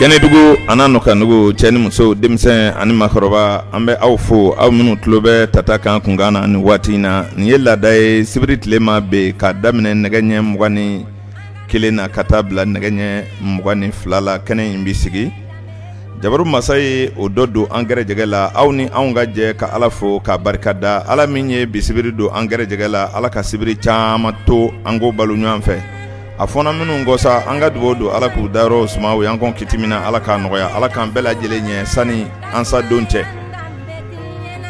kɛnɛdugu an'a nɔkan dugu cɛ ni muso denmisɛn ani makɔrɔba an bɛ aw fo aw minnu tulo bɛ tata kan kunkan na ni waati in na nin ye laada ye sibiri tile ma bin k'a daminɛ nɛgɛ ɲɛ mugan ni kelen na ka taa bila nɛgɛ ɲɛ mugan ni fila la kɛnɛ in bi sigi jabaru masa ye o dɔ don an gɛrɛjɛgɛ la aw ni anw ka jɛ ka ala fo k'a barika da ala min ye bi sibiri don an gɛrɛjɛgɛ la ala ka sibiri caman to an k'o balo ɲɔgɔn fɛ a fɔna minnu kɔ sa an ka dugawu don ala k'u dayɔrɔ suma u y'an kɔn kiti min na ala k'a nɔgɔya ala k'an bɛɛ lajɛlen ɲɛ sani an sa don cɛ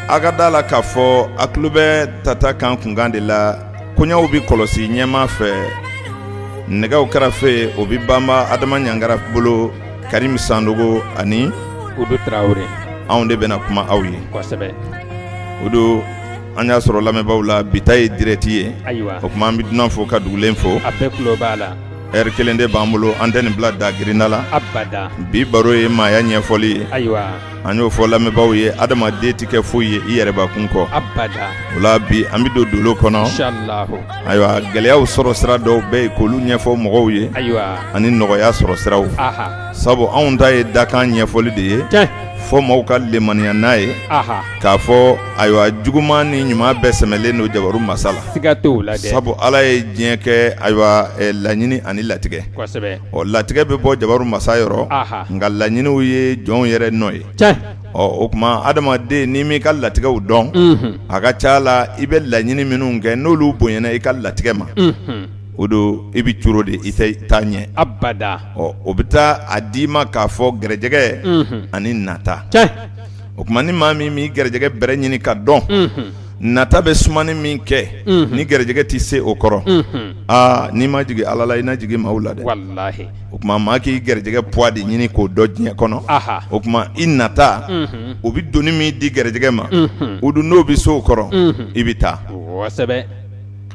a ka d'a la k'a fɔ a tulo bɛ tata kan kunkan de la koɲaw bi kɔlɔsi ɲɛma fɛ nɛgɛw kɛrɛfɛ o bi banba adama ɲangara bolo karim sandogo ani udu tarawele anw de bɛna kuma aw ye kosɛbɛ udu an y'a sɔrɔ lamɛnbaaw la bi ta ye direct ye ayiwa o kuma an bɛ dunan fo ka dugulen fo a bɛɛ tulo b'a la heure kelen de b'an bolo an tɛ nin bila dagirinya la abada bi baro ye maaya ɲɛfɔli ye ayiwa an y'o fɔ lamɛnbaaw ye adamaden tɛ kɛ foyi ye i yɛrɛbakun kɔ abada o la bi an bɛ don dolo kɔnɔ ayiwa gɛlɛyaw sɔrɔ sira dɔw bɛ yen k'olu ɲɛfɔ mɔgɔw ye ayiwa ani nɔgɔya sɔrɔ siraw sabu anw ta ye dakan ɲɛfɔli de ye fɔ mɔgɔw ka lemaniya n'a ye k'a fɔ ayiwa juguman ni ɲuman bɛɛ sɛmɛlen don jabaru masa la siga t'o la dɛ sabu Ala ye diɲɛ kɛ ayiwa laɲini ani latigɛ kosɛbɛ ɔ latigɛ bɛ bɔ jabaru masa yɔrɔ aha nka laɲiniw ye jɔnw yɛrɛ nɔ ye tiɲɛ ɔ o kuma adamaden n'i m'i ka latigɛw dɔn unhun a ka c'a la i bɛ laɲini minnu kɛ n'olu bonyana i ka latigɛ ma unhun o don i bɛ coolo de i tɛ taa ɲɛ abada ɔ o bɛ taa a d'i ma k'a fɔ gɛrɛjɛgɛ unhun ani nata tiɲɛ o kuma ni maa min m'i gɛrɛjɛgɛ bɛrɛ ɲini ka dɔn nata bɛ sumani min kɛ ni gɛrɛjɛgɛ tɛ se o kɔrɔ aa n'i ma jigin ala la i na jigin maaw la dɛ walayi o kuma maa k'i gɛrɛjɛgɛ poids de ɲini k'o dɔn diɲɛ kɔnɔ o kuma i nata o bɛ doni min di gɛrɛjɛgɛ ma o dun n'o bɛ se o kɔrɔ i bɛ taa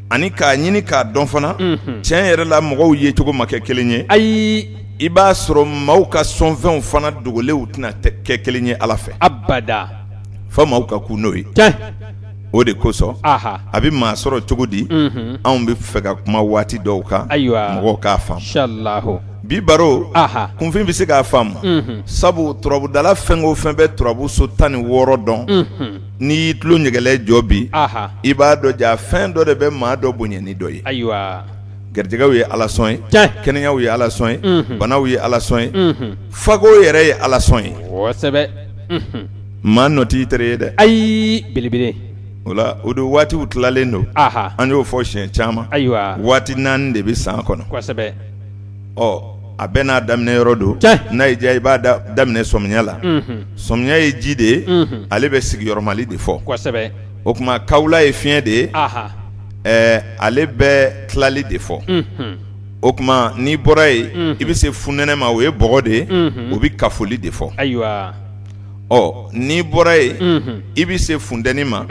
ani k'a ɲini k'a dɔn fana tiɲɛ yɛrɛ la mɔgɔw yecogo ma kɛ kelen ye ayi i b'a sɔrɔ maaw ka sɔnfɛnw fana dogolenw tɛna kɛ kelen ye ala fɛ abada fɔ maaw ka kun n'o ye o de kosɔn a bɛ maa sɔrɔ cogo di anw bɛ fɛ ka kuma waati dɔw kan ayiwa mɔgɔw k'a faamu bi baro kunfin bɛ se k'a faamu sabu turabudala fɛn o fɛn bɛ turabu so tan ni wɔɔrɔ dɔn n'i y'i tulo ɲɛgɛlɛ jɔ bi i b'a dɔn ja fɛn dɔ de bɛ maa dɔ bonya ni dɔ ye ayiwa gɛrɛjɛgɛw ye ala sɔn ye kɛnɛyaw ye ala sɔn ye banaw ye ala sɔn ye fago yɛrɛ ye ala sɔn ye kosɛbɛ maa nɔ t'i tere ye dɛ ayi belebele o la o don waatiw tilalen don an y'o fɔ siɲɛ caman ayiwa waati naani de bɛ san kɔnɔ ɔ a bɛɛ n'a daminɛ yɔrɔ don n'a y'i diya i b'a daminɛ sɔmiya la sɔmiya ye ji de ye ale bɛ sigiyɔrɔmali de fɔ o kuma kawula ye fiɲɛ de ye ale bɛ tilali de fɔ o kuma n'i bɔra yen i bɛ se funɛnɛ ma o ye bɔgɔ de ye o bɛ kafoli de fɔ ayiwa ɔ n'i bɔra yen i bɛ se funteni ma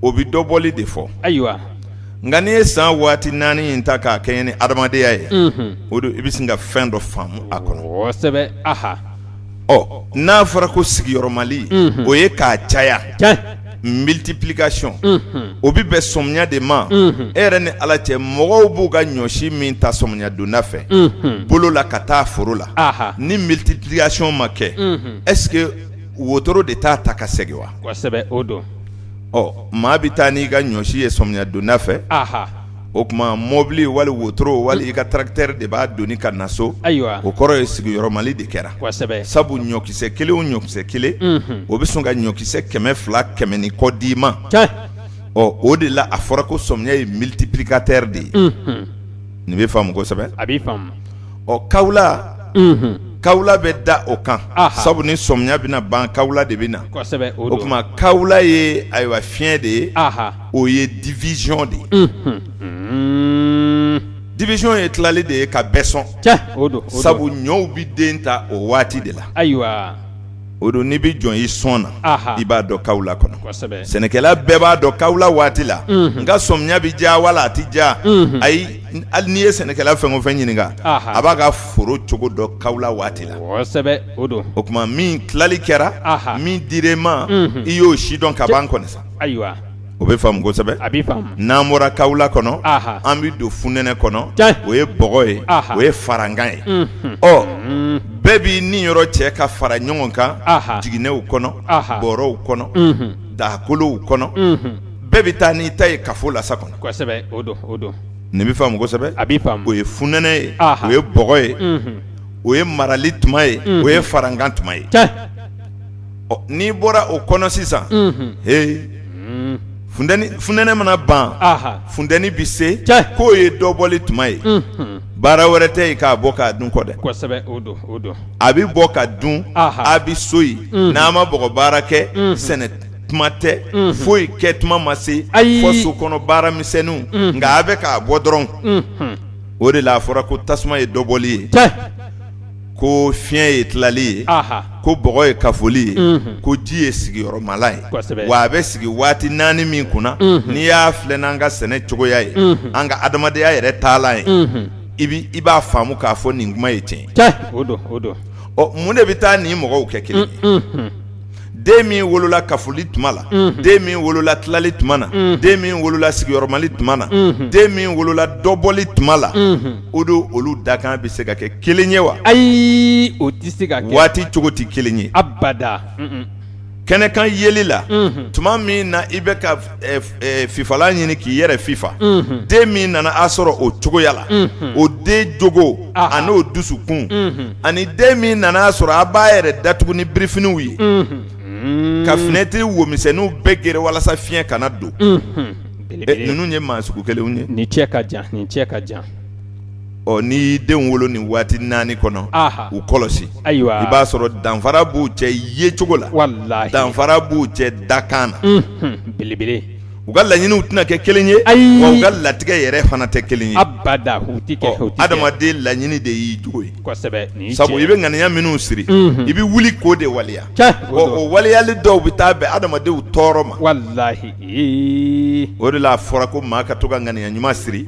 o bɛ dɔbɔli de fɔ ayiwa nka n'i ye san waati naani in ta k'a kɛɲɛ ni adamadenya ye o don i bɛ se ka fɛn dɔ faamu a kɔnɔ ɔ n'a fɔra ko sigiyɔrɔmali o ye k'a caya multiplication o bɛ bɛn sɔmiya de ma e yɛrɛ ni ala cɛ mɔgɔw b'u ka ɲɔsi min ta sɔmiya donda fɛ bolo la ka taa foro la ni multiplication ma kɛ est-ce que wotoro de t'a ta ka segin wa ɔ maa bɛ taa n'i ka ɲɔsi ye sɔmiya donda fɛ o kuma mɔbili wali wotoro wali i ka tracteur de b'a doni ka na so o kɔrɔ ye sigiyɔrɔmali de kɛra sabu ɲɔkisɛ kelen o ɲɔkisɛ kelen o bɛ sɔn ka ɲɔkisɛ kɛmɛ fila kɛmɛ ni kɔ d'i ma ɔ o de la a fɔra ko sɔmiya ye multiplicateur de ye nin bɛ faamu kosɛbɛ a bɛ ɔ kawula kawula bɛ da o kan sabu ni sɔmiya bɛna ban kawula de bɛ na o kuma kawula ye ayiwa fiɲɛ de ye o ye division de ye division ye tilali de ye ka bɛɛ sɔn sabu ɲɔw bɛ den ta o waati de la ayiwa o don n'i bɛ jɔn i sɔn na i b'a dɔn kawula kɔnɔ sɛnɛkɛla bɛɛ b'a dɔn kawula waati la n ka sɔmiya bɛ ja wala a tɛ ja ayi hali n'i ye sɛnɛkɛla fɛn o fɛn ɲininka a b'a ka foro cogo dɔn kawula waati la o don o kuma min tilali kɛra min dir'e ma i y'o sidɔn ka ban kɔni sa ayiwa O bɛ faamu kosɛbɛ a bɛ faamu n'an bɔra kawula kɔnɔ anhan an bɛ don funɛnɛ kɔnɔ tiɲɛ o ye bɔgɔ ye anhan o ye farankan ye unhun ɔ unn bɛɛ b'i niyɔrɔ cɛ ka fara ɲɔgɔn kan anhan jiginɛw kɔnɔ anhan bɔrɔw kɔnɔ unhun dagakolow kɔnɔ unhun bɛɛ bɛ taa n'i ta ye kafo lasa kɔnɔ kosɛbɛ o don o don nin bɛ faamu kosɛbɛ a bɛ faamu o ye funɛnɛ ye anhan o ye bɔgɔ ye unhun o ye marali tuma ye unhun o ye farankan tuma ye tiɲɛ ɔ n'i bɔra o kɔnɔ sisan ee funɛnɛ mana ban funteni bɛ se k'o ye dɔbɔli tuma ye baara wɛrɛ tɛ yen k'a bɔ k'a dun kɔ dɛ a bɛ bɔ ka dun a bɛ so yen n'a ma bɔgɔ baara kɛ sɛnɛ tuma tɛ foyi kɛ tuma ma se ayi fɔ so kɔnɔ baaramisɛnninw nka a bɛ k'a bɔ dɔrɔn o de la a fɔra ko tasuma ye dɔbɔli ye ko fiɲɛ ye tilali ye ko bɔgɔ ye kafoli ye ko ji ye sigiyɔrɔmala ye wa a bɛ sigi waati naani min kunna n'i y'a filɛ n'an ka sɛnɛ cogoya ye an ka adamadenya yɛrɛ taalan ye i b'a faamu k'a fɔ nin kuma ye tiɲɛ ɔ mun de bɛ taa nin mɔgɔw kɛ kelen den min wolola kafoli tuma la den min wolola tilali tuma na den min wolola sigiyɔrɔmali tuma na den min wolola dɔbɔli tuma la o don olu dakan bɛ se ka kɛ kelen ye wa ayi o tɛ se ka kɛ waati cogo tɛ kelen ye abada kɛnɛkan yeli la tuma min na i bɛ ka fifalan ɲini k'i yɛrɛ fifa den min nana a sɔrɔ o cogoya la o den jogo ani o dusukun ani den min nana a sɔrɔ a b'a yɛrɛ datugu ni birifiniw ye ka finɛtiri wo misɛnninw bɛɛ geren walasa fiɲɛ kana don ninnu ye maa sugu kelen ye ni cɛ ka jan ni cɛ ka jan ɔ n'i y'i denw wolo nin waati naani kɔnɔ u kɔlɔsi ayiwa i b'a sɔrɔ danfara b'u cɛ yecogo la danfara b'u cɛ dakan na belebele u ka laɲiniw tɛna kɛ kelen ye ayi u ka latigɛ yɛrɛ fana tɛ kelen ye abada adamaden laɲini de y'i jogo ye sabu i bɛ ŋaniya minnu siri i bɛ wuli k'o de waleya o waleyali dɔw bɛ taa bɛn adamadenw tɔɔrɔ ma o de la a fɔra ko maa ka to ka ŋaniya ɲuman siri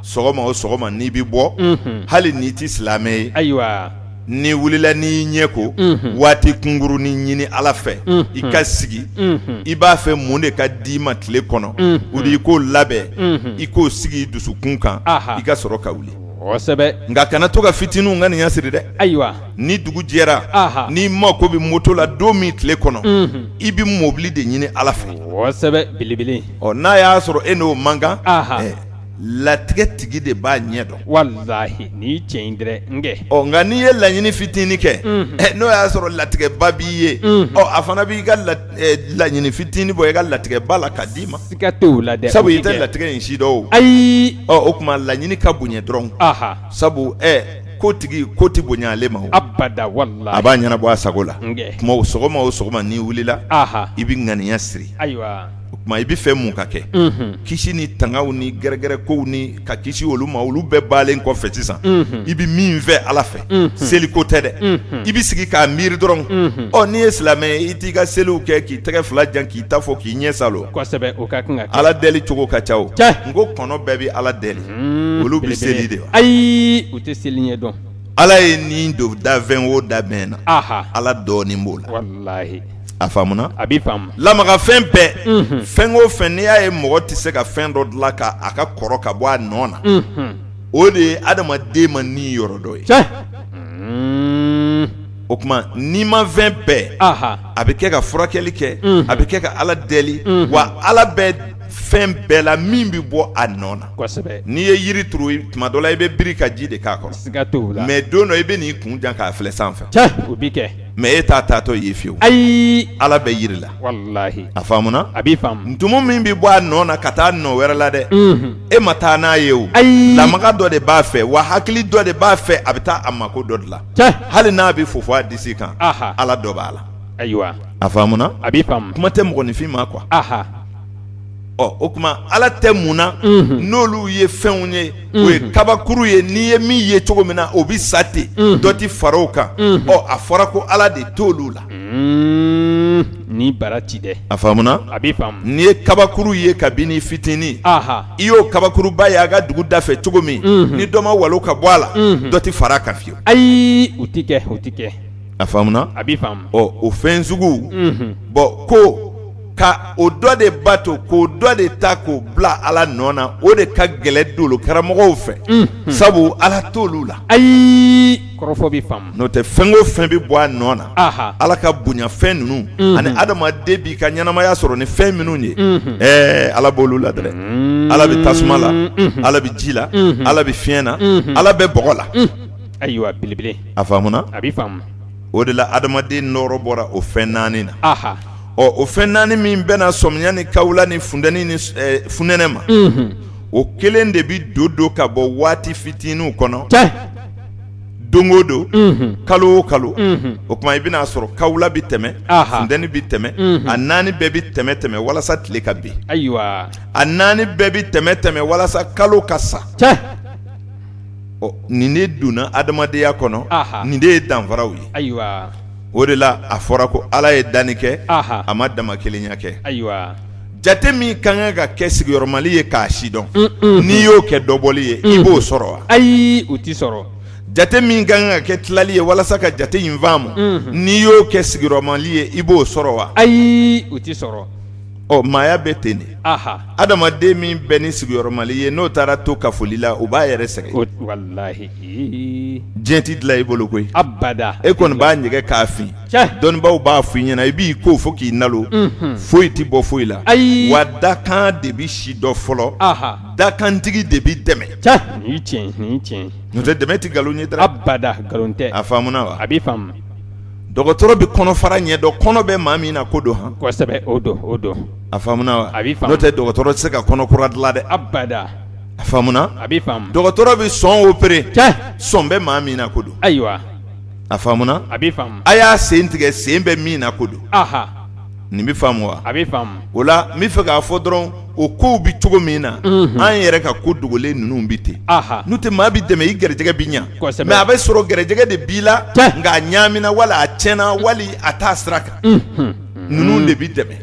sɔgɔma o sɔgɔma n'i bɛ bɔ hali n'i tɛ silamɛ ye ayiwa n'i wulila n'i ɲɛ ko waati kunkurunnin ɲini ala fɛ i ka sigi i b'a fɛ mun de ka d'i ma tile kɔnɔ o de i k'o labɛn i k'o sigi i dusukun kan i ka sɔrɔ ka wuli kosɛbɛ nka kana to ka fitininw ŋaniya siri dɛ ayiwa ni dugu jɛra n'i mako bɛ moto la don min tile kɔnɔ i bɛ mɔbili de ɲini ala fɛ kosɛbɛ belebele n'a y'a sɔrɔ e n'o man kan latigɛtigi de b'a ɲɛ dɔn walahi nin ye tiɲɛ ye nka n'i ye laɲini fitinin kɛ n'o y'a sɔrɔ latigɛba b'i ye a fana b'i ka laɲini fitinin bɔ i ka latigɛba la ka d'i ma siga t'o la dɛ sabu i tɛ latigɛ in si dɔn o ayi o tuma laɲini ka bonya dɔrɔn sabu ko tigi ko tɛ bonya ale ma abada walahi a b'a ɲɛnabɔ a sago la o tuma sɔgɔma o sɔgɔma n'i wulila i bɛ ŋaniya siri o tuma i b'a fɛ mun ka kɛ kisi ni tangaw ni gɛrɛgɛrɛkow ni ka kisi olu ma olu bɛɛ bannen kɔfɛ sisan i bɛ min fɛ ala fɛ seliko tɛ dɛ i bɛ sigi k'a miiri dɔrɔn ɔ n'i ye silamɛ ye i t'i ka seliw kɛ k'i tɛgɛ fila jan k'i ta fɔ k'i ɲɛ saalo ala deli cogo ka ca n ko kɔnɔ bɛɛ bɛ ala deli olu bɛ seli de wa ayi u tɛ seli ɲɛ dɔn ala ye nin don danfɛn o danfɛn na ala dɔɔni b'o la a faamuna a bɛ faamu lamagafɛn bɛɛ fɛn o fɛn n'i y'a ye mɔgɔ tɛ se ka fɛn dɔ dilan ka a ka kɔrɔ ka bɔ a nɔ na o de ye adamaden ma ni yɔrɔ dɔ ye o tuma nimafɛn bɛɛ a bɛ kɛ ka furakɛli kɛ a bɛ kɛ ka ala deli wa ala bɛ fɛn bɛɛ la min bɛ bɔ a nɔ na n'i ye yiri turu tuma dɔ la i bɛ biri ka ji de k'a kɔrɔ mɛ don dɔ i bɛ n'i kun jan k'a filɛ sanfɛ mɛ e t'a taatɔ ye fiyewu ayi ala bɛ yiri la a faamuna a bɛ faamu ntumu min bɛ bɔ a nɔ na ka taa nɔ wɛrɛ la dɛ e ma taa n'a ye o ayi lamaga dɔ de b'a fɛ wa hakili dɔ de b'a fɛ a bɛ taa a mako dɔ dilan hali n'a bɛ fofo a disi kan ala dɔ b'a la ayiwa a faamuna a bɛ faamu kuma tɛ mɔgɔninfin ma kuwa ɔ o tuma Ala tɛ mun na, unhun, n'olu ye fɛnw ye, unhun, o ye kabakuru ye n'i ye min ye cogo min na o bɛ sa ten, unhun, dɔ tɛ fara o kan, unhun, ɔ a fɔra ko Ala de t'olu la, un, ni bara ci dɛ, a faamuna, a bɛ faamu, n'i ye kabakuru ye kabini i fitini, anhan, i y'o kabakuruba ye a ka dugu da fɛ cogo min, unhun, ni dɔ ma walon ka bɔ a la, unhun, dɔ tɛ fara a kan fiyewu, ayi o tɛ kɛ o tɛ kɛ, a faamuna, a bɛ faamu, ɔ o fɛn sugu, unhun, bɔn ko ka o dɔ de bato k'o dɔ de ta k'o bila ala nɔ na o de ka gɛlɛ dolo karamɔgɔw fɛ sabu ala t'olu la ayi kɔrɔfɔ bɛ faamu n'o tɛ fɛn o fɛn bɛ bɔ a nɔ na ala ka bonyafɛn ninnu ani adamaden b'i ka ɲɛnamaya sɔrɔ ni fɛn minnu ye ɛɛ ala b'olu la dɛ ala bɛ tasuma la ala bɛ ji la ala bɛ fiɲɛ na ala bɛ bɔgɔ la ayiwa belebele a faamuna a bɛ o de la adamaden nɔɔrɔ bɔra o fɛn naani na ɔ o fɛn naani min bɛnna sɔmiya ni kawula ni funteni ni funɛnɛ ma o kelen de bɛ don don ka bɔ waati fitininw kɔnɔ don o don kalo o kalo o tuma i bɛna a sɔrɔ kawula bɛ tɛmɛ funteni bɛ tɛmɛ a naani bɛɛ bɛ tɛmɛ tɛmɛ walasa tile ka bin ayiwa a naani bɛɛ bɛ tɛmɛ tɛmɛ walasa kalo ka sa ɔ nin de donna adamadenya kɔnɔ, anhan, nin de ye danfaraw ye, ayiwa, o de la a fɔra ko Ala ye danni kɛ, anhan, a ma damakelenya kɛ, ayiwa, jate min ka kan ka kɛ sigiyɔrɔmali ye k'a sidɔn, un un, n'i y'o kɛ dɔbɔli ye, unhun, i b'o sɔrɔ wa? Ayi o tɛ sɔrɔ, jate min ka kan ka kɛ tilali ye walasa ka jate in faamu, unhun, n'i y'o kɛ sigiyɔrɔmali ye i b'o sɔrɔ wa? Ayi o t'i sɔrɔ. ɔ maaya bɛ ten de adamaden min bɛ ni sigiyɔrɔmali ye n'o taara to kafoli la o b'a yɛrɛ sɛgɛn diɲɛ tɛ dilan i bolo koyi e kɔni b'a ɲɛgɛn k'a fin dɔnnibaaw b'a f'i ɲɛna i b'i ko fo k'i nalo foyi tɛ bɔ foyi la ayi wa dakan de bɛ sidɔn fɔlɔ dakantigi de bɛ dɛmɛ n'o tɛ dɛmɛ tɛ nkalon ye a faamuna wa a bɛ dɔgɔtɔrɔ bɛ kɔnɔ fara ɲɛ dɔn kɔnɔ bɛ maa min na ko don han kosɛbɛ o don o don a faamuna wa a b'i faamu n'o tɛ dɔgɔtɔrɔ tɛ se ka kɔnɔ kura dilan dɛ abada a faamuna a b'i faamu dɔgɔtɔrɔ bɛ sɔn opérer tiɲɛ sɔn bɛ maa min na ko don ayiwa a faamuna a b'i faamu a y'a sen tigɛ sen bɛ min na ko don aha nin bɛ faamu wa a bɛ faamu o la n bɛ fɛ k'a fɔ dɔrɔn o kow bɛ cogo min na an yɛrɛ ka ko dogolen ninnu bɛ ten n'o tɛ maa bɛ dɛmɛ i garijɛgɛ bɛ ɲɛ kosɛbɛ mɛ a bɛ sɔrɔ garijɛgɛ de b'i la nka a ɲaamina wala a tiɲɛna wali a t'a sira kan ninnu de bɛ dɛmɛ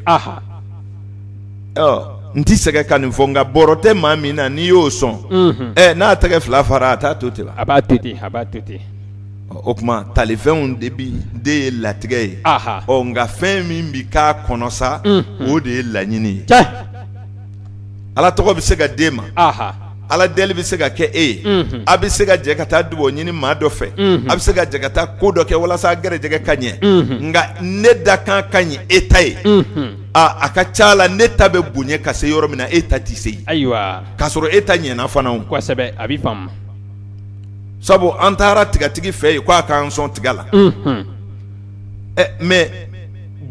n tɛ sɛgɛn ka nin fɔ nka bɔrɔ tɛ maa min na n'i y'o sɔn ɛ n'a tɛgɛ fila fara a t'a to ten wa a b'a to ten a b'a to ten o tuma talifɛnw de bɛ de ye latigɛ ye ɔ nka fɛn min bɛ k'a kɔnɔ sa o de ye laɲini ye ala tɔgɔ bɛ se ka d'e ma ala deli bɛ se ka kɛ e ye a bɛ se ka jɛ ka taa dugawu ɲini maa dɔ fɛ a bɛ se ka jɛ ka taa ko dɔ kɛ walasa gɛrɛjɛgɛ ka ɲɛ nka ne dakan ka ɲi e ta ye aaa a ka ca la ne ta bɛ bonya ka se yɔrɔ min na e ta tɛ se yen ayiwa k'a sɔrɔ e ta ɲɛna fana kosɛbɛ a bɛ sabu an taara tigatigi fɛ yen ko a k'an sɔn tiga la mɛ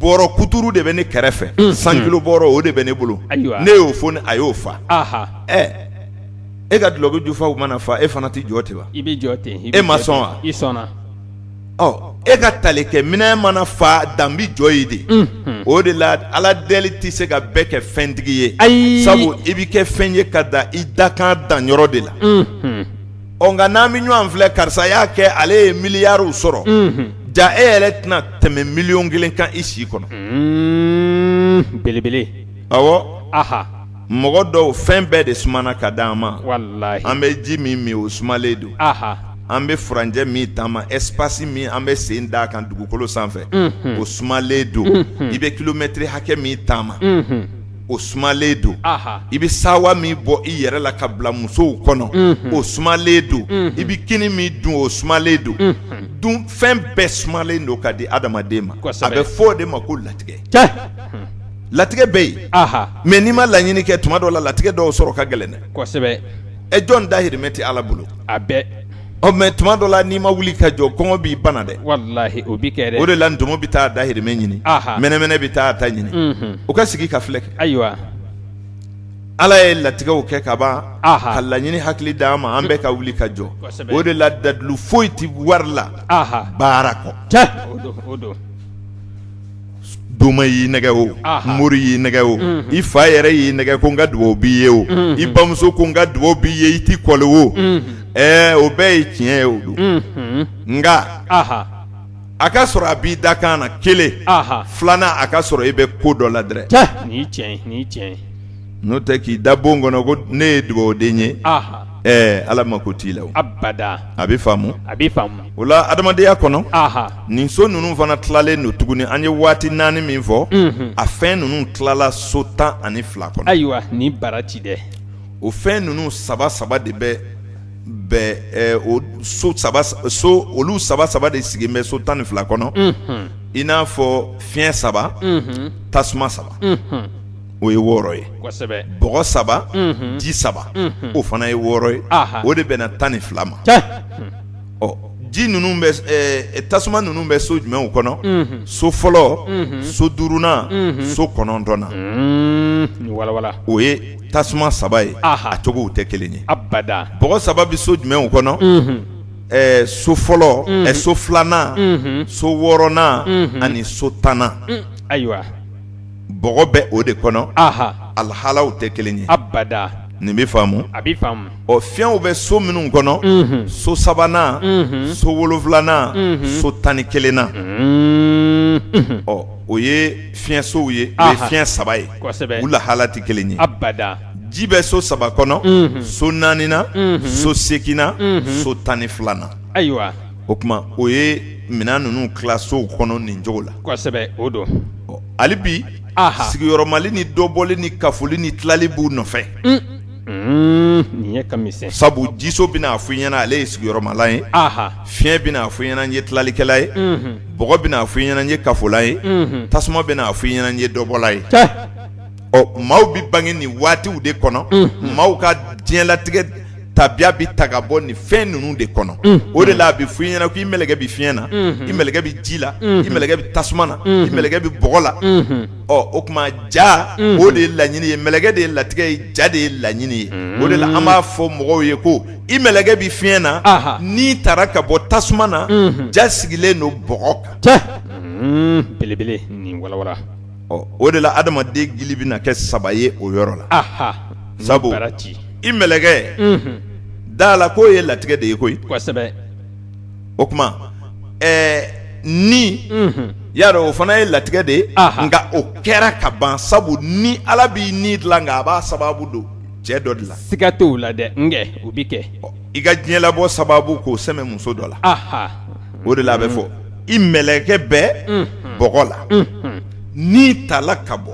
bɔrɔ kuturu de bɛ ne kɛrɛfɛ cent kilos bɔrɔ o de bɛ ne bolo ne y'o foni a y'o fa e ka dulɔki jufaw mana fa e fana tɛ jɔ ten wa i bɛ jɔ ten e ma sɔn wa i sɔnna e ka talikɛ minɛn mana fa dan bɛ jɔ yen de o de la ala deli tɛ se ka bɛɛ kɛ fɛntigi ye ayi sabu i bɛ kɛ fɛn ye ka da i dakan dan yɔrɔ de la ɔ nka n'an bɛ ɲɔgɔn filɛ karisa y'a kɛ ale ye miliyariw sɔrɔ ja e yɛrɛ tɛna tɛmɛ miliyɔn kelen kan i si kɔnɔ belebele awɔ mɔgɔ dɔw fɛn bɛɛ de sumana ka di an ma an bɛ ji min min o sumalen don an bɛ furancɛ min taama espace min an bɛ sen d'a kan dugukolo sanfɛ o sumalen don i bɛ kilomɛtiri hakɛ min taama o sumalen don i bɛ sawa min bɔ i yɛrɛ la ka bila musow kɔnɔ o sumalen don i bɛ kini min dun o sumalen don dun fɛn bɛɛ sumalen don ka di adamaden ma a bɛ fɔ o de ma ko latigɛ latigɛ bɛ yen mɛ n'i ma laɲini kɛ tuma dɔ la latigɛ dɔw sɔrɔ ka gɛlɛn dɛ ɛ jɔn dahirimɛ tɛ ala bolo Ɔ mɛ tuma dɔ la n'i ma wuli ka jɔ kɔngɔ b'i bana dɛ o bɛ kɛ dɛ o de la ntumu bɛ taa dahirimɛ ɲini mɛnɛmɛnɛ bɛ taa ta ɲini o ka sigi ka filɛ kɛ ayiwa ala ye latigɛw kɛ ka ban ka laɲini hakili d'an ma an bɛɛ ka wuli ka jɔ o de la dalilu foyi tɛ wari la baara kɔ doma y'i nɛgɛ o mori y'i nɛgɛ o i fa yɛrɛ y'i nɛgɛ ko n ka dugawu b'i ye o i bamuso ko n ka dugawu b'i ye i tɛ kɔli wo o bɛɛ ye tiɲɛ ye o don nka a ka sɔrɔ a b'i da kan na kelen filanan a ka sɔrɔ i bɛ ko dɔ la dɛ n'o tɛ k'i da bon kɔnɔ ko ne ye dugawuden ye ɛɛ ala mako t'i la abada a bɛ faamu a bɛ faamu o la adamadenya kɔnɔ nin so ninnu fana tilalen don tuguni an ye waati naani min fɔ a fɛn ninnu tilala so tan ani fila kɔnɔ ayiwa ni baraji dɛ o fɛn ninnu saba saba de bɛ bɛ o so saba so olu saba saba de sigilen bɛ so tan ni fila kɔnɔ i n'a fɔ fiɲɛ saba tasuma saba o ye wɔɔrɔ ye bɔgɔ saba ji saba o fana ye wɔɔrɔ ye o de bɛ na tan ni fila ma ɔ ji ninnu tasuma ninnu bɛ so jumɛnw kɔnɔ so fɔlɔ so duurunan so kɔnɔntɔnnan o ye tasuma saba ye a cogow tɛ kelen ye bɔgɔ saba bɛ so jumɛnw kɔnɔ so fɔlɔ so filanan so wɔɔrɔnan ani so tannan ayiwa bɛ o de kɔnɔ a lahalaw tɛ kelen ye nin bɛ faamu ɔ fiɲɛw bɛ so minnu kɔnɔ so sabanan so wolonfilanan so tan ni kelennan ɔ o ye fiɲɛsow ye o ye fiɲɛ saba ye u lahala tɛ kelen ye ji bɛ so saba kɔnɔ so naaninan so seginnan so tan ni filanan o tuma o ye minɛn ninnu tila sow kɔnɔ nin cogo la kosɛbɛ o don hali bi sigiyɔrɔmali ni dɔbɔli ni kafoli ni tilali b'u nɔfɛ n'i ɲɛ ka misɛn sabu jiso bɛna a fɔ i ɲɛna ale ye sigiyɔrɔmalan ye fiɲɛ bɛna a fɔ i ɲɛna n ye tilalikɛla ye bɔgɔ bɛna a fɔ i ɲɛna n ye kafola ye tasuma bɛna a fɔ i ɲɛna n ye dɔbɔla ye ɔ maaw bɛ bange nin waatiw de kɔnɔ maaw ka diɲɛlatigɛ tabiya bɛ ta ka bɔ nin fɛn ninnu de kɔnɔ o de la a bɛ fɔ i ɲɛna ko i mɛlɛkɛ bɛ fiɲɛ na i mɛlɛkɛ bɛ ji la i mɛlɛkɛ bɛ tasuma na i mɛlɛkɛ bɛ bɔgɔ la ɔ o tuma ja o de ye laɲini ye mɛlɛkɛ de ye latigɛ ye ja de ye laɲini ye o de la an b'a fɔ mɔgɔw ye ko i mɛlɛkɛ bɛ fiɲɛ na n'i taara ka bɔ tasuma na ja sigilen don bɔgɔ kan belebele nin walawala ɔ o de la adamaden gili bɛna kɛ saba ye o yɔrɔ la, anhan, sabu i mɛlɛkɛ, unhun, d'a la k'o ye latigɛ de ye koyi, kosɛbɛ, o tuma ɛɛ ni, unhun, y'a dɔn o fana ye latigɛ de ye, anhan, nka o kɛra ka ban sabu ni Ala b'i ni dilan nka a b'a sababu don cɛ dɔ de la, siga t'o la dɛ, nka o bɛ kɛ, i ka diɲɛlabɔ sababu k'o sɛmɛ muso dɔ la, anhan o de la a bɛ fɔ i mɛlɛkɛ bɛ bɔgɔ la ni tala ka bɔ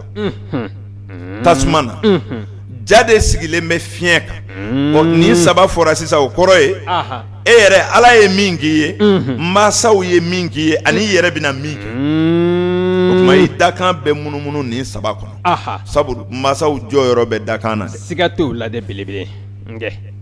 tasuma na ja de sigilen bɛ fiɲɛ kan nin saba fɔra sisan o kɔrɔ ye e yɛrɛ ala ye min k'i ye mansaw ye min k'i ye ani i yɛrɛ bɛna min kɛ o tuma i dakan bɛ munumunu nin saba kɔnɔ sabu mansaw jɔyɔrɔ bɛ dakan na siga t'o la dɛ belebele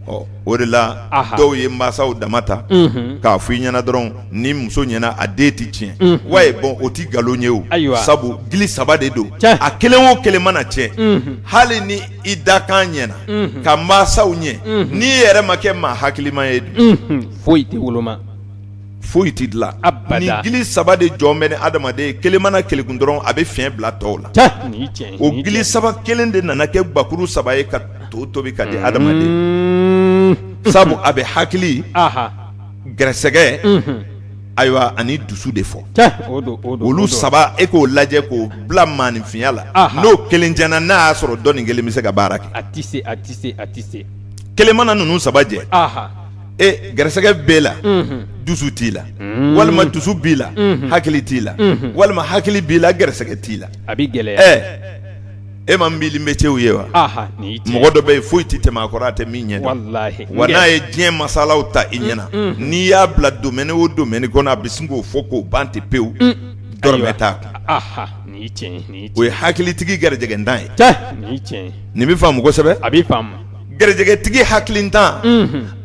ɔ o de la Aha. dɔw ye mansaw dama ta Unhun. k'a fɔ i ɲɛna dɔrɔn ni muso ɲɛna a den tɛ tiɲɛ Unhun. wayi bɔn o tɛ nkalon ye o Ayiwa. sabu gili saba de don Tiɲɛ. a kelen o kelen mana tiɲɛ Unhun. hali ni i dakan ɲɛna Unhun. ka mansaw ɲɛ Unhun. n'i yɛrɛ ma kɛ maa hakilima ye dun Unhun. foyi tɛ woloma foyi tɛ dilan a nin gili saba de jɔn bɛ ni adamaden ye kelen mana kelekun dɔrɔn a bɛ fiɲɛ bila tɔw la o gili saba kelen de nana kɛ gakuru saba ye ka to tobi ka di adamaden mm. sabu a bɛ hakili gɛrɛsɛgɛ mhm. ayiwa ani dusu de fɔ olu saba e k'o lajɛ k'o bila maaninfinya la n'o kelen jɛnna n'a y'a sɔrɔ dɔ nin kelen bɛ se ka baara kɛ kelen mana ninnu saba jɛ e garisɛgɛ b'e la unhun dusu t'i la unn walima dusu b'i la unhun hakili t'i la unhun walima hakili b'i la garisɛgɛ t'i la a bi gɛlɛya ɛ e ma mille métierw ye wa aha nin ye tiɲɛ mɔgɔ dɔ bɛ yen foyi ti tɛmɛ a kɔrɔ a tɛ min ɲɛdɔn walahi wa n'a ye diɲɛ masalaw ta i ɲɛna unhun n'i y'a bila domaine o domaine kɔnɔ a bi sin k'o fɔ k'o ban ten pewu un dɔrɔmɛ ayiwa t'a kun aha nin ye tiɲɛ ye nin y'i o ye tiɲɛ hakilitigi garijɛgɛntan ye cɛ nin ye tiɲɛ ye nin bi faamu kosɛbɛ a bi faamu garijɛgɛtigi hakilintan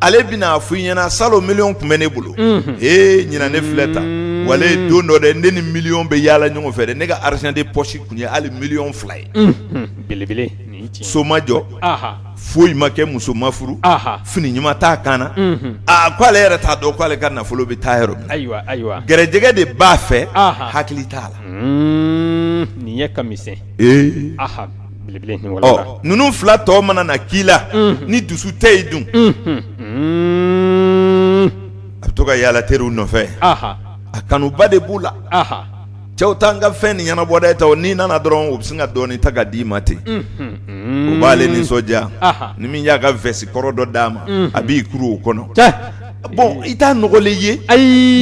ale bɛna a f'i ɲɛna salon miliyɔn tun bɛ ne bolo ee ɲinan ne filɛ tan walahi don dɔ dɛ ne ni miliyɔn bɛ yaala ɲɔgɔn fɛ dɛ ne ka argent de poche tun ye hali miliyɔn fila ye belebele so ma jɔ foyi ma kɛ muso ma furu fini ɲuman t'a kan na aa ko ale yɛrɛ t'a dɔn k' ale ka nafolo bɛ taa yɔrɔ min ayiwa ayiwa garijɛgɛ de b'a fɛ hakili t'a la nin ye kami ninnu fila tɔ mana na k'i la ni dusu tɛ yen dun a bɛ to ka yaala teriw nɔfɛ a kanuba de b'u la cɛw taa n ka fɛn nin ɲɛnabɔ dɛ taa n'i nana dɔrɔn o bɛ sin ka dɔɔnin ta ka d'i ma ten o b'ale nisɔndiya ni min y'a ka vɛsi kɔrɔ dɔ d'a ma a b'i kuru o kɔnɔ bɔn i t'a nɔgɔlen ye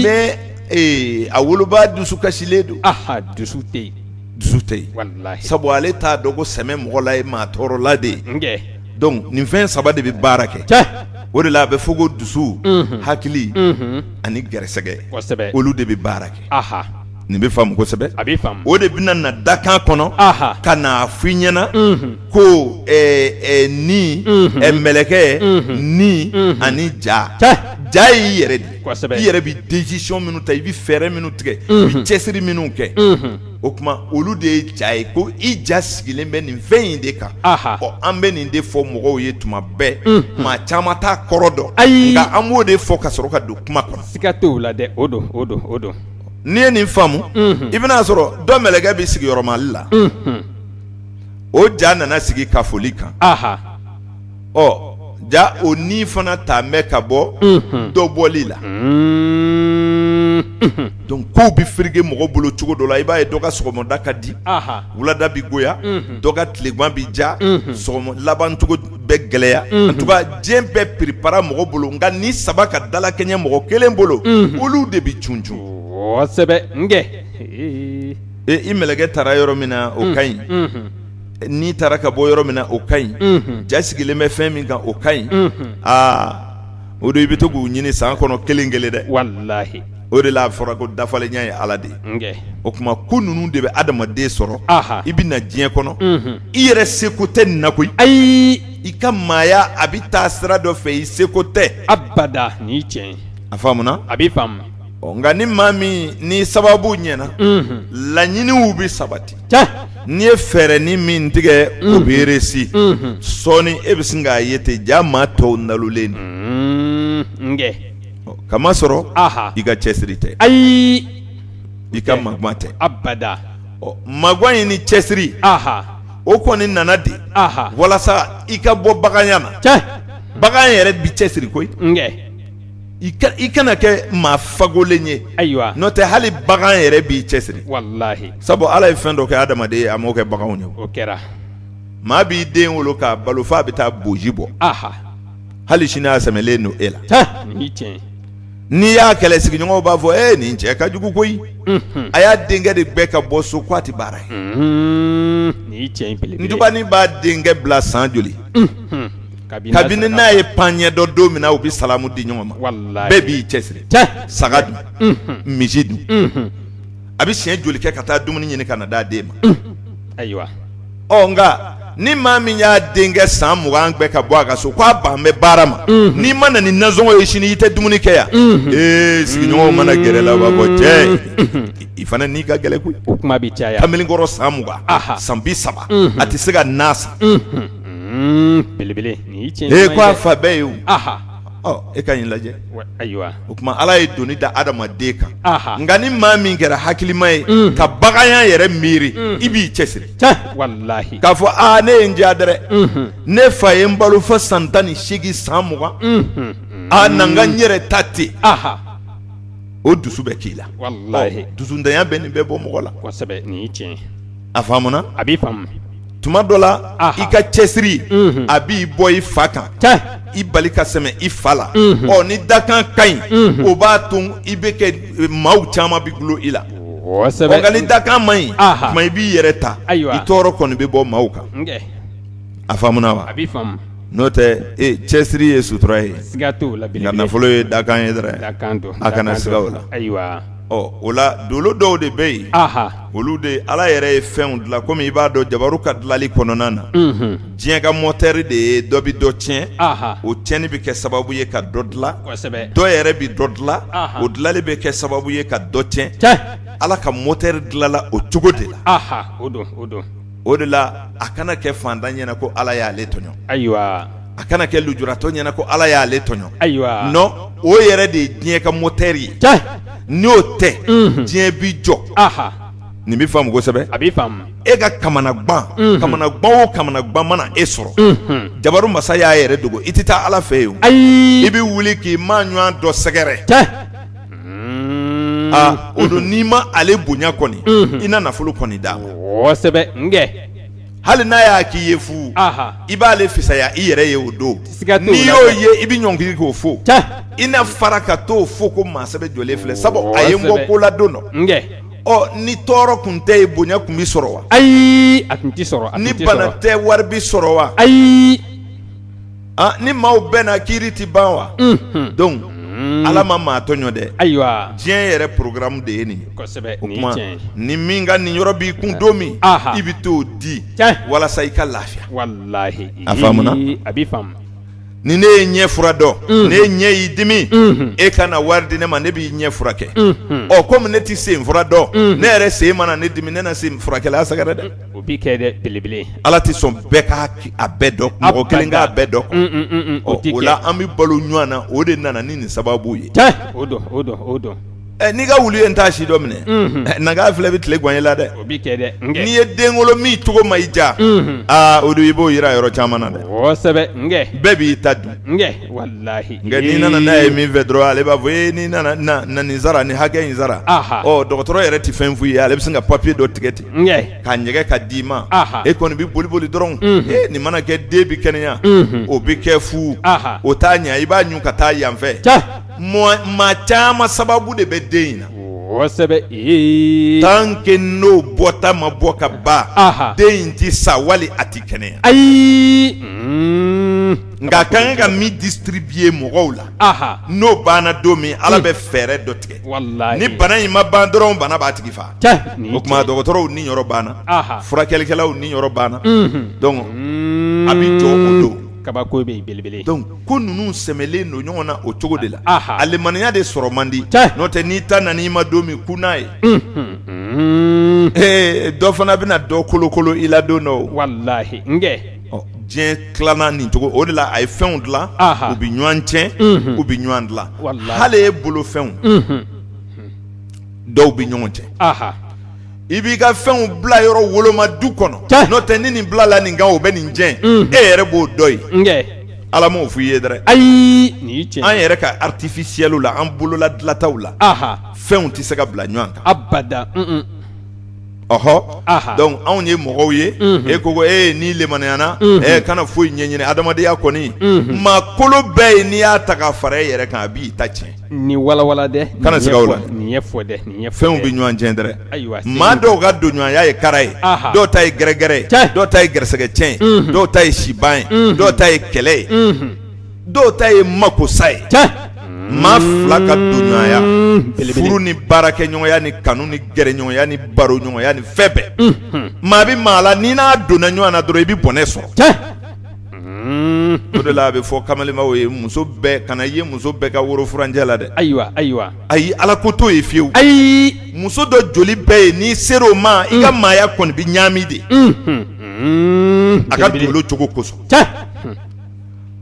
mais a woloba dusu kasilen don dusu tɛ yen dusu tɛ yen sabu ale t'a dɔn ko sɛmɛ mɔgɔla ye maa tɔɔrɔla de ye donc nin fɛn saba de bɛ baara kɛ o de la a bɛ fɔ ko dusu hakili ani garisɛgɛ olu de bɛ baara kɛ nin bɛ faamu kosɛbɛ a bɛ o de bɛna na dakan kɔnɔ ka n'a f'i ɲɛna ko ni mɛlɛkɛ ni ani ja ja y'i yɛrɛ de i yɛrɛ bɛ décision minnu ta i bɛ fɛɛrɛ minnu tigɛ i bɛ cɛsiri minnu kɛ o tuma olu de ye ja ye ko i ja sigilen bɛ nin fɛn in de kan ɔ an bɛ nin de fɔ mɔgɔw ye tuma bɛɛ maa caman t'a kɔrɔ dɔn ayi nka an b'o de fɔ ka sɔrɔ ka don kuma kɔnɔ siga t'a la dɛ o don o don o don n'i ye nin faamu i bɛn'a sɔrɔ dɔ mɛlɛkɛ bɛ sigiyɔrɔmali la o ja nana sigi kafoli kan ɔ ja o ni fana ta bɛ ka bɔ dɔbɔli la donc kow bɛ fereke mɔgɔ bolo cogo dɔ la i b'a ye dɔ ka sɔgɔmada ka di wulada bɛ goya dɔ ka tilegan bɛ diya sɔgɔma labancogo bɛ gɛlɛya en tout cas diɲɛ bɛ piripara mɔgɔ bolo nka ni saba ka dalakɛɲɛ mɔgɔ kelen bolo olu de bɛ cuncun kosɛbɛ i mɛlɛkɛ taara yɔrɔ min na o ka ɲi ni taara ka bɔ yɔrɔ min na o ka ɲi ja sigilen bɛ fɛn min kan o ka ɲi aa o don i bɛ to k'u ɲini san kɔnɔ kelen kelen dɛ walahi o de la a fɔra ko dafalenya ye ala de ye o tuma ko ninnu de bɛ adamaden sɔrɔ i bɛ na diɲɛ kɔnɔ i yɛrɛ seko tɛ nin na koyi ayi i ka maaya a bɛ taa sira dɔ fɛ i seko tɛ abada ni tiɲɛ a faamuna a bɛ ɔ nka ni maa min ni sababu ɲɛna laɲiniw bɛ sabati n'i ye fɛɛrɛ ni min tigɛ o bɛ réussi sɔɔni e bɛ sin k'a ye ten ja maa tɔw nalonnen don k'a masɔrɔ i ka cɛsiri tɛ ayi i ka magan tɛ abada ɔ magan in ni cɛsiri o kɔni nana de walasa i ka bɔ baganya na bagan yɛrɛ b'i cɛsiri koyi i kana kɛ maa fakolen ye ayiwa n'o tɛ hali bagan yɛrɛ b'i cɛsiri sabu ala ye fɛn dɔ kɛ adamaden ye a m'o kɛ baganw ye o kɛra maa b'i den wolo k'a balo fo a bɛ taa boji bɔ hali sini a sɛmɛlen don e la n'i y'a kɛlɛ sigiɲɔgɔnw b'a fɔ e nin cɛ ka jugu koyi a y'a denkɛ de gɛn ka bɔ so ko a tɛ baara ye ntubanin b'a denkɛ bila san joli kabini n'a ye pan ɲɛ dɔn don min na u bɛ salamu di ɲɔgɔn ma bɛɛ b'i cɛsiri saga dun misi dun a bɛ siɲɛ joli kɛ ka taa dumuni ɲini ka na d'a den ma ayiwa ɔ nka ni maa min y'a denkɛ san mugan gɛn ka bɔ a ka so k'a ban bɛ baara ma n'i ma na ni nansɔngɔ ye sini i tɛ dumuni kɛ yan ee sigiɲɔgɔnw mana gɛrɛ la u b'a fɔ cɛ i fana ni ka gɛlɛn koyi kuma bɛ caya kamalenkɔrɔ san mugan san bi saba a tɛ se ka na san Hmm, belebele nin ye tiɲɛ. E ko a fa bɛɛ ye o. Aha. Ɔ e ka nin lajɛ. Ayiwa. O tuma Ala ye doni da adamaden kan. Aha. Nka ni maa min kɛra hakilima ye. Unhun. Ka baganya yɛrɛ miiri. Unhun. I b'i cɛsiri. Tiɲɛ walahi. K'a fɔ aa ne ye n diya dɛrɛ. Unhun. Ne fa ye n balo fo san tan ni seegin san mugan. Unhun. Aa na n ka n yɛrɛ ta ten. Aha. O dusu bɛ k'i la. Walahi. Ɔ dusuntanya bɛ nin bɛɛ bɔ mɔgɔ la. Kosɛbɛ nin ye tiɲɛ ye. A faamuna? A bɛ faamu. tuma dɔ la i ka cɛsiri a b'i bɔ i fa kan i bali ka sɛmɛ i fa la ɔ ni dakan ka ɲi o b'a to i bɛ kɛ maaw caman bɛ dulo i la nka ni dakan man ɲi tuma i b'i yɛrɛ ta i tɔɔrɔ kɔni bɛ bɔ maaw kan a faamuna wa n'o tɛ cɛsiri ye sutura ye nka nafolo ye dakan ye dɛrɛ a kana siga o la ɔ o la dolo dɔw de bɛ yen olu de ala yɛrɛ ye fɛnw dilan kɔmi i b'a dɔn jabaru ka dilanli kɔnɔna na diɲɛ ka mɔteri de ye dɔ bɛ dɔ tiɲɛ o tiɲɛni bɛ kɛ sababu ye ka dɔ dilan dɔ yɛrɛ bɛ dɔ dilan o dilanli bɛ kɛ sababu ye ka dɔ tiɲɛ ala ka mɔteri dilanla o cogo de la o de la a kana kɛ fantan ɲɛna ko ala y'ale tɔɲɔ ayiwa a kana kɛ lujuratɔ ɲɛna ko ala y'ale tɔɲɔ non o yɛrɛ de ye diɲɛ ka mɔteri ye n'o tɛ diɲɛ bɛ jɔ nin bɛ faamu kosɛbɛ a bɛ faamu e ka kamanagan kamanagan o kamanagan mana e sɔrɔ jabaru masa y'a yɛrɛ dogo i tɛ taa ala fɛ yen ayi i bɛ wuli k'i maa ɲɔgɔn dɔ sɛgɛrɛ o don n'i ma ale bonya kɔni i na nafolo kɔni d'a ma kosɛbɛ hali n'a y'a k'i ye fu i b'ale fisaya i yɛrɛ ye o don n'i y'o ye i bɛ ɲɔngiriri k'o fo i na fara ka t'o fo ko maa sɛbɛ jɔlen filɛ sabu a ye n bɔ ko la don dɔ ɔ ni tɔɔrɔ tun tɛ yen bonya tun bɛ sɔrɔ wa ayi a tun tɛ sɔrɔ ni bana tɛ wari bɛ sɔrɔ wa ayi ni maaw bɛnna kiiri tɛ ban wa donc ala ma maa tɔɲɔ dɛ ayiwa diɲɛ yɛrɛ porokaramu de ye nin ye ni min ka niyɔrɔ b'i kun don min i bɛ t'o di walasa i ka lafiya a faamuna ni ne ye ɲɛ fura dɔn n'e ɲɛ y'i dimi e ka na wari di ne ma ne b'i ɲɛ furakɛ ɔ kɔmi ne tɛ sen fura dɔn ne yɛrɛ sen mana ne dimi ne na sen furakɛla sɛgɛrɛ dɛ o b'i kɛ dɛ belebele ala tɛ sɔn bɛɛ k'a bɛɛ dɔn mɔgɔ kelen k'a bɛɛ dɔn o la an bɛ balo ɲɔgɔn na o de nana ni nin sababu ye o don n'i ka wulu ye n taa si dɔ minɛ naga filɛ bɛ tile gan i la dɛ n'i ye den wolo min cogo ma i diya o don i b'o jira yɔrɔ caman na dɛ kosɛbɛ bɛɛ b'i ta dun n'i nana n'a ye min fɛ dɔrɔn ale b'a fɔ e n'i nana nin sara nin hakɛ in sara dɔgɔtɔrɔ yɛrɛ tɛ fɛn f'i ye ale bɛ se ka papiye dɔ tigɛ ten k'a ɲɛgɛ ka d'i ma e kɔni bɛ boli boli dɔrɔn nin mana kɛ den bɛ kɛnɛya o bɛ kɛ fu o t'a ɲɛ i b'a ɲun ka taa yanfɛ maa caman sababu de bɛ den in na kosɛbɛ tant que n'o bɔta ma bɔ ka ban den in tɛ sa wali a tɛ kɛnɛya ayi nka a ka kan ka min distribuer mɔgɔw la n'o banna don min ala bɛ fɛɛrɛ dɔ tigɛ ni bana in ma ban dɔrɔn bana b'a tigi faa o tuma dɔgɔtɔrɔw niyɔrɔ banna furakɛlikɛlaw niyɔrɔ banna donc a bɛ jɔ o don kabako bɛ belebele ko ninnu sɛmɛlen don ɲɔgɔn na o cogo de la a limaniya de sɔrɔ man di n'o tɛ n'i ta nan'i ma don min kun n'a ye ee dɔ fana bɛna dɔ kolokolo i la don dɔ walahi diɲɛ tilana nin cogo o de la a ye fɛnw dila u bɛ ɲɔgɔn tiɲɛ u bɛ ɲɔgɔn dila hali e bolofɛnw dɔw bɛ ɲɔgɔn tiɲɛ i b'i ka fɛnw bila yɔrɔ woloma du kɔnɔ n'o tɛ ni nin bilala nin kan o bɛ nin tiɲɛ mm. e yɛrɛ b'o dɔ ye ala m'o f'i ye dɛrɛ ayi an yɛrɛ ka artificiel la an bolola dilataw la fɛnw tɛ se ka bila ɲɔgɔn kan abada ɔhɔ donc anw ye mɔgɔw ye e ko e n'i limaniyana kana foyi ɲɛɲini adamadenya kɔni maa kolo bɛ yen n'i y'a ta ka fara e yɛrɛ kan a b'i ta tiɲɛ nin walawala dɛ kana siga o la nin fɛnw bɛ ɲɔgɔn tiɲɛ dɛrɛ ayiwa maa dɔw ka donɲɔgɔnya ye kara ye dɔw ta ye gɛrɛgɛrɛ ye dɔw ta ye gɛrɛsɛgɛ tiɲɛ ye dɔw ta ye siban ye dɔw ta ye kɛlɛ ye dɔw ta ye makosa ye maa fila ka donɲɔgɔnya furu ni baarakɛɲɔgɔnya ni kanu ni gɛrɛɲɔgɔnya ni baroɲɔgɔnya ni fɛn bɛɛ maa bɛ maa la n'i n'a donna ɲɔgɔn na dɔrɔn i bɛ bɔnɛ sɔrɔ o de la a bɛ fɔ kamalenbaw ye muso bɛɛ kana ye muso bɛɛ ka woro furancɛ la dɛ ayiwa ayiwa ayi ala ko t'o ye fiyewu ayi muso dɔ joli bɛ yen n'i sera o ma i ka maaya kɔni bɛ ɲaami de a ka dolo cogo kosɔn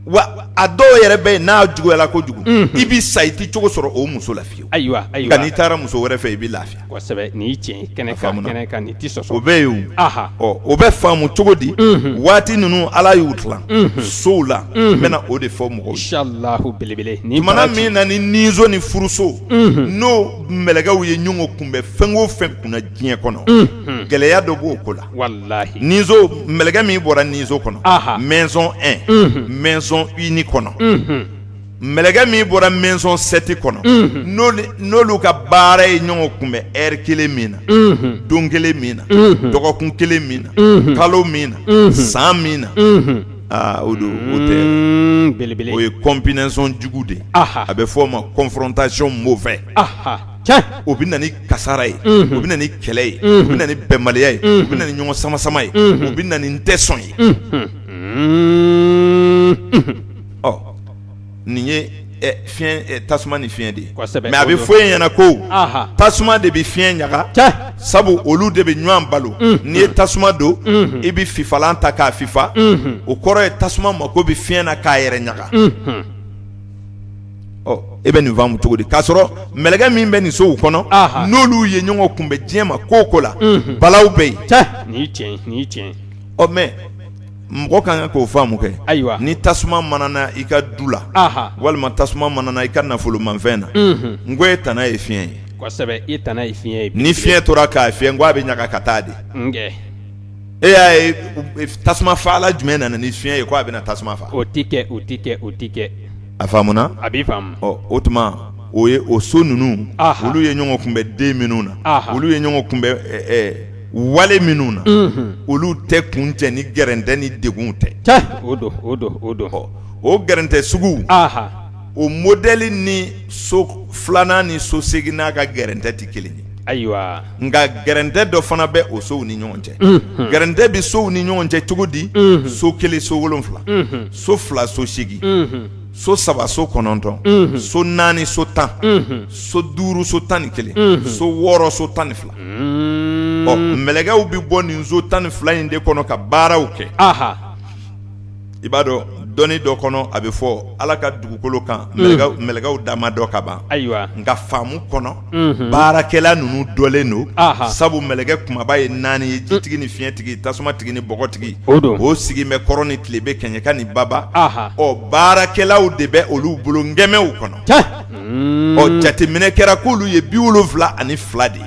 wa a dɔw yɛrɛ bɛ yen n'a juguyala kojugu i bɛ sa i tɛ cogo sɔrɔ o muso la fiyewu ayiwa nka n'i taara muso wɛrɛ fɛ i bɛ lafiya nin tiɲɛ kɛnɛ tɛ o bɛ yen o bɛ faamu cogo di waati ninnu ala y'u tila sow la n bɛna o de fɔ mɔgɔw belebele ni mana min na ni nizo ni furuso n'o mɛlɛkɛw ye ɲɔgɔn kunbɛn fɛn o fɛn kunna diɲɛ kɔnɔ gɛlɛya dɔ b'o ko la walahi nizo mɛlɛkɛ min bɔra nizo kɔnɔ Aha. maison 1 maison uni kɔnɔ mɛlɛkɛ min bɔra maison 7 kɔnɔ n'olu- n'olu ka baara ye ɲɔgɔn kunbɛn heure kelen min na don kelen min na dɔgɔkun kelen min na kalo min na san min na aa o don o tɛ Mm, belebele o ye combinaison jugu de ye aha a bɛ fɔ o ma confrontation mauvaise aha o bɛ na ni kasara ye o bɛ na ni kɛlɛ ye o bɛ na ni bɛnbaliya ye o bɛ na ni ɲɔgɔn samasama ye o bɛ na ni n tɛ sɔn ye ɔ nin ye fiɲɛ tasuma ni fiɲɛ de ye mɛ a bɛ fɔ e ɲɛna ko tasuma de bɛ fiɲɛ ɲaga sabu olu de bɛ ɲɔgɔn balo n'i ye tasuma don i bɛ fifalan ta k'a fifa o kɔrɔ ye tasuma mako bɛ fiɲɛ na k'a yɛrɛ ɲaga ɔ e bɛ nin faamu cogo di k'a sɔrɔ mɛlɛkɛ min bɛ nin sow kɔnɔ Aha. n'olu ye ɲɔgɔn kunbɛn diɲɛ ma ko o ko la Unhun. balaw bɛ yen Cɛ. nin ye tiɲɛ ye, nin ye tiɲɛ ye. ɔ mɛ mɔgɔ ka kan k'o faamu kɛ Ayiwa. ni tasuma manana i ka du la Aha. walima tasuma manana i ka nafolomanfɛn na Unhun. n ko e tana ye fiɲɛ ye kosɛbɛ i tana ye fiɲɛ ye ni fiɲɛ tora k'a fiyɛ n ko a bɛ ɲaga ka taa de nkɛ e y'a ye u- tasuma faala jumɛn nana ni fiɲɛ ye ko a bɛna tasuma faga o ti kɛ o ti kɛ o ti kɛ a faamuna a b'i faamu o tuma o ye o so ninnu olu ye ɲɔgɔn kunbɛn den minnu na olu ye ɲɔgɔn kunbɛn wale minnu na olu tɛ kuncɛ ni gɛrɛntɛ ni degunw tɛ o gɛrɛntɛ sugu o modɛli ni so filanan ni so seginnan ka gɛrɛntɛ tɛ kelen ye ayiwa nka gɛrɛntɛ dɔ fana bɛ o sow ni ɲɔgɔn cɛ gɛrɛntɛ bɛ sow ni ɲɔgɔn cɛ cogo di so kelen so wolonfila so fila so segin so saba so kɔnɔntɔn so naani so tan so duuru so tan ni kelen so wɔɔrɔ so tan ni fila ɔ mɛlɛkɛw bɛ bɔ nin so tan ni fila in de kɔnɔ ka baaraw kɛ i b'a dɔn dɔnni dɔ kɔnɔ a bɛ fɔ ala ka dugukolo kan mɛlɛkɛw da ma dɔn ka ban ayiwa nka faamu kɔnɔ baarakɛla ninnu dɔnlen don sabu mɛlɛkɛ kunbaba ye naani ye jitigi ni fiɲɛtigi tasumatigi ni bɔgɔtigi o don o sigi bɛ kɔrɔn ni tilebin kɛɲɛka ni baba ɔ baarakɛlaw de bɛ olu bolo ngɛmɛw kɔnɔ ɔ jateminɛ kɛra k'olu ye bi wolonfila ani fila de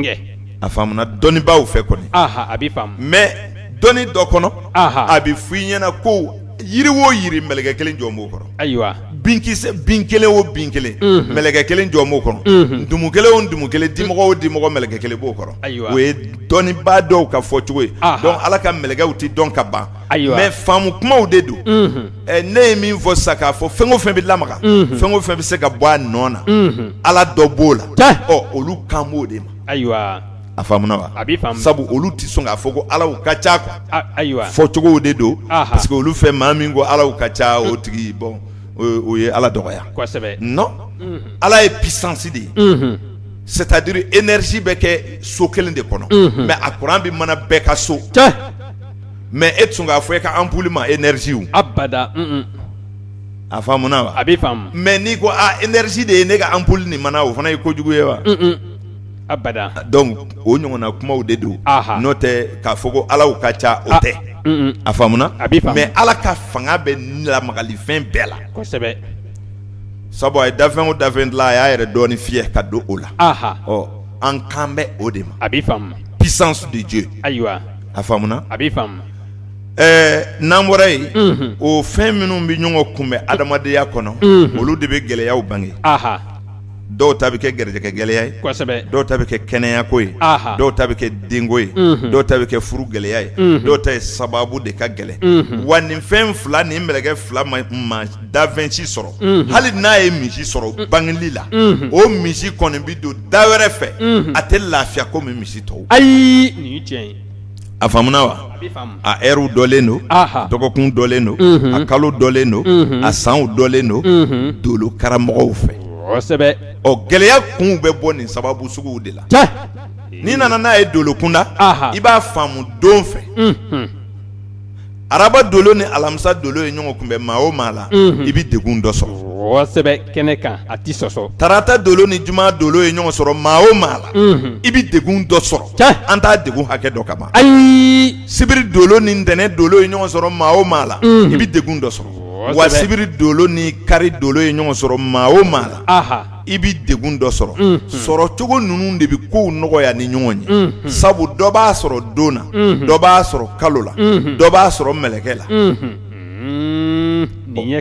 ye a faamuna dɔnnibaaw fɛ kɔni a b'i faamu mɛ dɔnni dɔ kɔnɔ a bɛ fɔ i ɲɛna ko yiri wo yiri mɛlɛkɛ kelen jɔn b'o kɔrɔ ayiwa bin kelen o bin kelen mɛlɛkɛ kelen jɔn b'o kɔnɔ ntumu kelen o ntumu kelen dimɔgɔ o dimɔgɔ mɛlɛkɛ kelen b'o kɔrɔ ayiwa o ye dɔnnibaa dɔw ka fɔ cogo ye donc ala ka mɛlɛkɛw tɛ dɔn ka ban ayiwa mɛ faamu kumaw de don ne ye min fɔ sa k'a fɔ fɛn o fɛn bɛ lamaga fɛn o fɛn bɛ se ka bɔ a nɔ na ala dɔ b'o la ɔ olu kan b'o de ma ayiwa a faamuna wa a bɛ sabu olu tɛ sɔn k'a fɔ ko alaw ka ca ayiwa fɔ cogo de don parce que olu fɛ maa min ko alaw ka ca o tigi bon o ye ala dɔgɔya non ala ye puissance de ye c'est-à-dire énergie bɛ kɛ so kelen de kɔnɔ mais a kuran bɛ mana bɛɛ ka so mais e tɛ sɔn k'a fɔ e ka ampoule ma énergie abada a faamuna wa a bɛ mais n'i ko énergie de ye ne ka ampoule nin mana o fana ye kojugu ye wa donc o ɲɔgɔnna kumaw de don n'o tɛ k'a fɔ ko alaw ka ca o tɛ a faamuna mais ala ka fanga bɛ lamagalifɛn bɛɛ la kosɛbɛ sabu a ye dafɛn o dafɛn dilan a y'a yɛrɛ dɔɔnin fiyɛ ka don o la ɔ an kan bɛ o de ma a bɛ puissance de Dieu ayiwa a faamuna a bɛ ɛɛ n'an bɔra yen o fɛn minnu bɛ ɲɔgɔn kunbɛn adamadenya kɔnɔ olu de bɛ gɛlɛyaw bange dɔw ta bɛ kɛ garijɛgɛ gɛlɛya ye kosɛbɛ dɔw ta bɛ kɛ kɛnɛyako ye dɔw ta bɛ kɛ denko ye dɔw ta bɛ kɛ furu gɛlɛya ye dɔw ta ye sababu de ka gɛlɛn wa nin fɛn fila ni mɛlɛkɛ fila ma dafɛn si sɔrɔ hali n'a ye misi sɔrɔ bangeli la o misi kɔni bɛ don da wɛrɛ fɛ a tɛ lafiya komi misi tɔw ayi a faamuna wa a heure dɔlen don dɔgɔkun dɔlen don a kalo dɔlen don a sanw dɔlen don dolo karamɔgɔw fɛ ɔ gɛlɛya kun bɛ bɔ nin sababu suguw de la n'i nana n'a ye dolo kunna i b'a faamu don fɛ araba dolo ni alamisa dolo ye ɲɔgɔn kunbɛn maa o maa la i bɛ degun dɔ sɔrɔ kɛnɛ kan a tɛ sɔsɔ tarata dolo ni juma dolo ye ɲɔgɔn sɔrɔ maa o maa la i bɛ degun dɔ sɔrɔ an t'a degun hakɛ dɔn ka ban ayi sibiri dolo ni ntɛnɛn dolo ye ɲɔgɔn sɔrɔ maa o maa la i bɛ degun dɔ sɔrɔ wa sibiri dolo ni kari dolo ye ɲɔgɔn sɔrɔ maa o maa la i bɛ degun dɔ sɔrɔ sɔrɔcogo ninnu de bɛ kow nɔgɔya ni ɲɔgɔn ye sabu dɔ b'a sɔrɔ don na dɔ b'a sɔrɔ kalo la dɔ b'a sɔrɔ mɛlɛkɛ la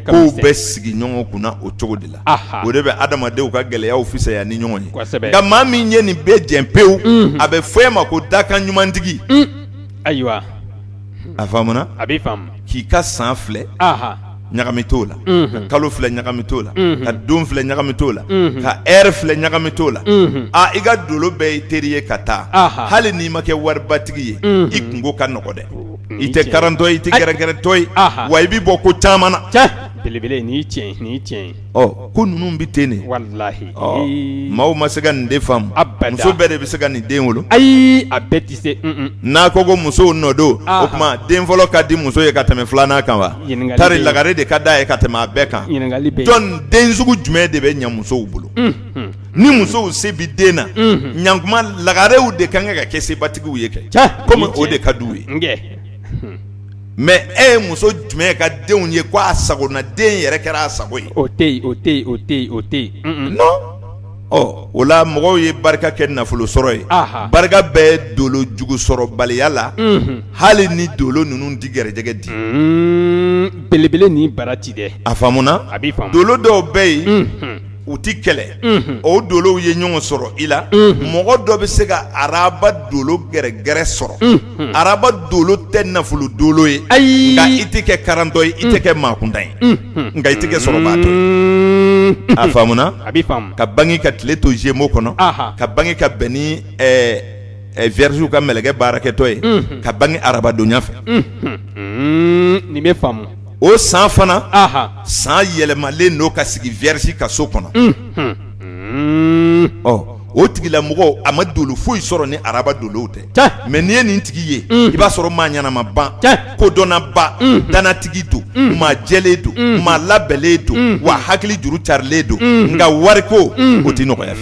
kow bɛ sigi ɲɔgɔn kunna o cogo de la o de bɛ adamadenw ka gɛlɛyaw fisaya ni ɲɔgɔn ye nka maa min ye nin bɛɛ jɛ pewu a bɛ fɔ e ma ko dakan ɲumantigi ayiwa a faamuna a bɛ k'i ka san filɛ ɲagami t'o la ka kalo filɛ ɲagami t'o la ka don filɛ ɲagami t'o la ka heure filɛ ɲagami t'o la aa i ka dolo bɛɛ i teri ye ka taa hali n'i ma kɛ waribatigi ye i kunko ka nɔgɔ dɛ i tɛ karantɔ ye i tɛ gɛrɛgɛrɛtɔ ye wa i bɛ bɔ ko caman na ɔ ko ninnu bɛ ten de walahi ɔ maaw ma se ka nin de faamu abada muso bɛɛ de bɛ se ka nin den wolo ayi a bɛɛ tɛ se un un n'a ko ko musow nɔ don o tuma den fɔlɔ ka di muso ye ka tɛmɛ filanan kan wa ɲininkali tari lagare de ka d'a ye ka tɛmɛ a bɛɛ kan ɲininkali bɛ jɔn den sugu jumɛn de bɛ ɲɛ musow bolo ni musow se bi den na ɲankuma lagarew de ka kan ka kɛ sebatigiw ye kɛ komi o de ka d'u ye mɛ e ye muso jumɛn ka denw ye ko a sago na den yɛrɛ kɛra a sago ye o tɛ o tɛ o tɛ o tɛ ɔ o la mɔgɔw ye barika kɛ nafolo sɔrɔ ye barika bɛ dolo jugu sɔrɔbaliya la hali ni dolo ninnu di gɛrɛjɛgɛ di belebele ni bara ci dɛ a faamuna a bɛ dolo dɔw bɛ yen U tɛ kɛlɛ o dolow ye ɲɔgɔn sɔrɔ i la mɔgɔ dɔ bɛ se ka araba dolo gɛrɛgɛrɛ sɔrɔ araba dolo tɛ nafolo dolo ye nka i tɛ kɛ karatɔ ye i tɛ kɛ maa kuntan ye nka i tɛ kɛ sɔrɔbaatɔ ye a faamuna a bɛ ka bange ka tile to Gémeaux kɔnɔ ka bange ka bɛn ni Vierge ka mɛlɛkɛ baarakɛtɔ ye ka bange arabadonya fɛ nin bɛ faamu o san fana san yɛlɛmalen don ka sigi Vierge ka so kɔnɔ ɔ o tigilamɔgɔ a ma dolo foyi sɔrɔ ni araba dolow tɛ mɛ n'i ye nin tigi ye i b'a sɔrɔ maa ɲanama ban kodɔnnaba dannatigi don maa jɛlen don maa labɛnlen don wa hakili juru carilen don nka wariko o tɛ nɔgɔya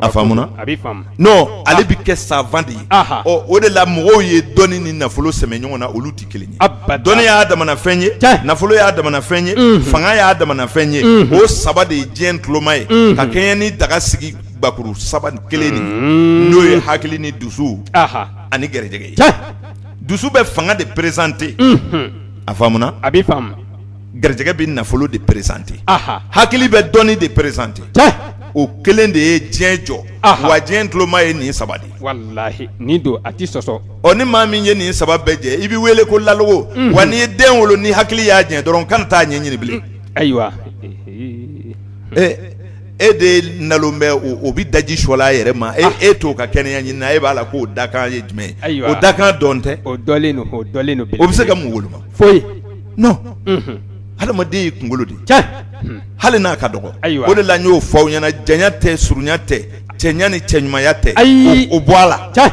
a faamuna a bɛ non ale bɛ kɛ savant de ye ɔ o de la mɔgɔw ye dɔnni ni nafolo sɛmɛ ɲɔgɔn na olu tɛ kelen ye a ba dɔnni y'a damana fɛn ye nafolo y'a damana fɛn ye fanga y'a damana fɛn ye o saba de ye diɲɛ tuloma ye ka kɛɲɛ ni daga sigi gakuru saba kelen nin n'o ye hakili ni dusu ani gɛrɛjɛgɛ ye dusu bɛ fanga de présenter a faamuna a bɛ gɛrɛjɛgɛ bɛ nafolo de présenter hakili bɛ dɔnni de présenter o kelen de ye diɲɛ jɔ wa diɲɛ tuloma ye nin saba de ye don a tɛ sɔsɔ ɔ ni maa min ye nin saba bɛɛ jɛ i bɛ wele ko lalogo wa n'i ye den wolo ni hakili y'a jɛ dɔrɔn kana taa ɲɛ ɲini bilen ayiwa e e den nalon bɛ o bɛ daji sɔla a yɛrɛ ma e e t'o ka kɛnɛya ɲini na e b'a la k'o dakan ye jumɛn ye o dakan dɔn tɛ o o bɛ se ka mun woloma foyi non unhun hadamaden ye kungolo de ye tiɲɛ hunn hali n'a ka dɔgɔ ayiwa o de la n y'o fɔ aw ɲɛna janya tɛ surunya tɛ cɛɲa ni cɛɲumanya tɛ Ayi o o bɔ a la tiɲɛ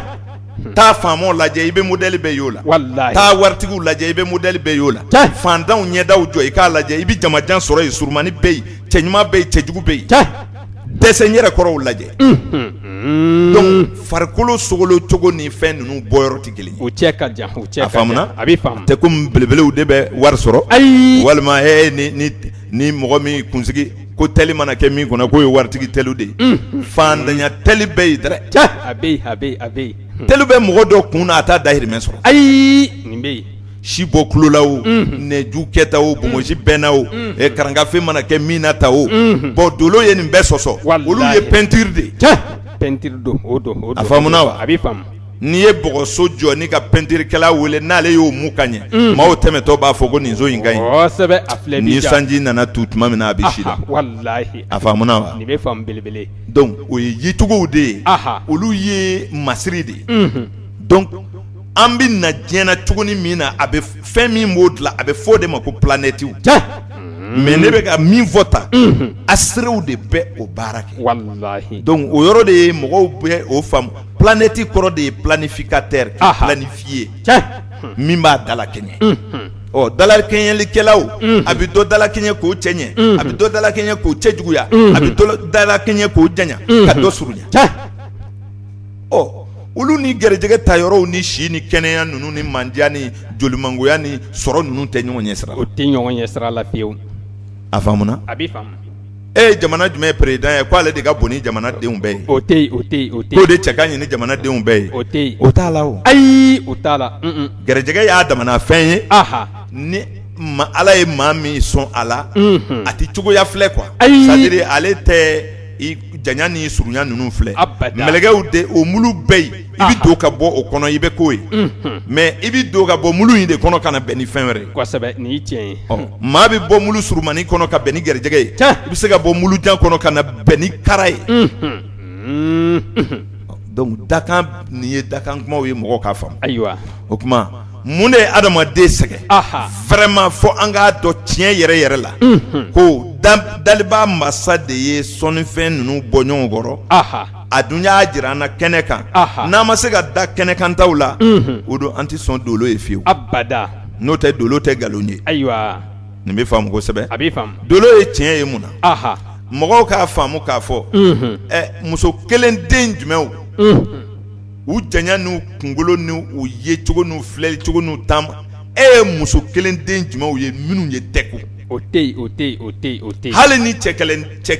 taa faamaw lajɛ i bɛ modèle bɛɛ y'o la walahi taa waritigiw lajɛ i bɛ modèle bɛɛ y'o la Tiɲɛ. faantanw ɲɛdaw jɔ i k'a lajɛ i bɛ jamajan sɔrɔ yen surumani bɛ yen cɛɲuman bɛ yen cɛjugu bɛ yen tiɲɛ dɛsɛ n yɛrɛ kɔrɔw lajɛ dɔnku farikolo sogolon cogo ni fɛn ninnu bɔyɔrɔ tɛ kelen ye a faamuna tɛ komi belebelew de bɛ wari sɔrɔ ayi walima ni mɔgɔ min kunsigi ko teli mana kɛ min kun na k'o ye waritigi teliw de ye faantanya teli bɛ yen dɛrɛ teli bɛ mɔgɔ dɔ kun na a t'a dahirimɛ sɔrɔ ayi si bɔ kulo la o nɛju kɛta o bonbonsi bɛnna o karangafe mana kɛ min na ta o bɔn dolo ye nin bɛɛ sɔsɔ olu ye pɛntiri de ye pɛntiri don o a faamuna wa a bɛ faamu n'i ye bɔgɔso jɔ n'i ka pɛntirikɛla wele n'ale y'o mu ka ɲɛ maaw tɛmɛtɔ b'a fɔ ko nin so in ka ɲi ni sanji nana tu tuma min na a bɛ si la a faamuna belebele dɔnku o ye yecogow de ye olu ye masiri de ye an bɛ na diɲɛ na cogoni min na a bɛ fɛn min b'o dilan a bɛ fɔ o de ma ko planetiw mɛ ne bɛ ka min fɔ tan a sew de bɛ o baara kɛ dɔnku o yɔrɔ de ye mɔgɔw bɛ o faamu planeti kɔrɔ de ye planifikatɛri planifiye min b'a dalakɛɲɛ ɔ dalakɛɲɛlikɛlaw a bɛ dɔ dalakɛɲɛ k'o cɛɲɛ a bɛ dɔ dalakɛɲɛ k'o cɛjuguya a bɛ dɔ dalakɛɲɛ k'o janya ka dɔ surunya ɔ olu ni garijɛgɛ ta yɔrɔw ni si ni kɛnɛya ninnu ni mandiya ni jolimangoya ni sɔrɔ ninnu tɛ ɲɔgɔn ɲɛ sira o tɛ ɲɔgɔn ɲɛ sira la fiyewu a faamuna a bɛ faamu e ye jamana jumɛn ye peresidan ye k'ale de ka bon ni jamanadenw bɛɛ ye o tɛ o tɛ o tɛ k'o de cɛ ka ɲi ni jamanadenw bɛɛ ye o tɛ o t'a la o ayi o t'a la garijɛgɛ y'a damana fɛn ye aha ni ala ye maa min sɔn a la a tɛ cogoya filɛ kuwa sɛtadiri ale tɛ janya ni surunya ninnu filɛ mɛlɛkɛw de o mulu bɛ yen i bɛ don ka bɔ o kɔnɔ i bɛ k'o ye mɛ i bɛ don ka bɔ mulu in de kɔnɔ ka na bɛn ni fɛn wɛrɛ ye nin ye tiɲɛ ye maa bɛ bɔ mulu surunmani kɔnɔ ka bɛn ni garijɛgɛ ye i bɛ se ka bɔ mulu jan kɔnɔ ka na bɛn ni kara ye dɔnku dakan nin ye dakan kumaw ye mɔgɔw k'a faamu ayiwa o Mun de ye adamaden sɛgɛn vraiment fɔ an k'a dɔn tiɲɛ yɛrɛ yɛrɛ la ko daliba masa de ye sɔnnifɛn ninnu bɔ ɲɔgɔn kɔrɔ a dun y'a jira an na kɛnɛ kan n'an ma se ka da kɛnɛ kan taw la o don an tɛ sɔn dolo ye fiyewu n'o tɛ dolo tɛ nkalon ye ayiwa nin bɛ faamu kosɛbɛ a dolo ye tiɲɛ ye mun na mɔgɔw k'a faamu k'a fɔ muso kelen den jumɛnw u janya n'u kunkolo ni u yecogo n'u filɛli cogo n'u taama e ye muso kelen den jumɛnw ye minnu ye tɛ kun o tɛ o tɛ o tɛ o tɛ hali ni cɛ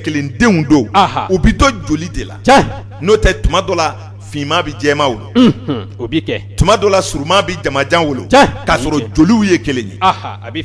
kelen denw don u bɛ to joli de la n'o tɛ tuma dɔ la finman bɛ jɛman wolo o bɛ kɛ tuma dɔ la surunman bɛ jamajan wolo k'a sɔrɔ joliw ye kelen ye a bɛ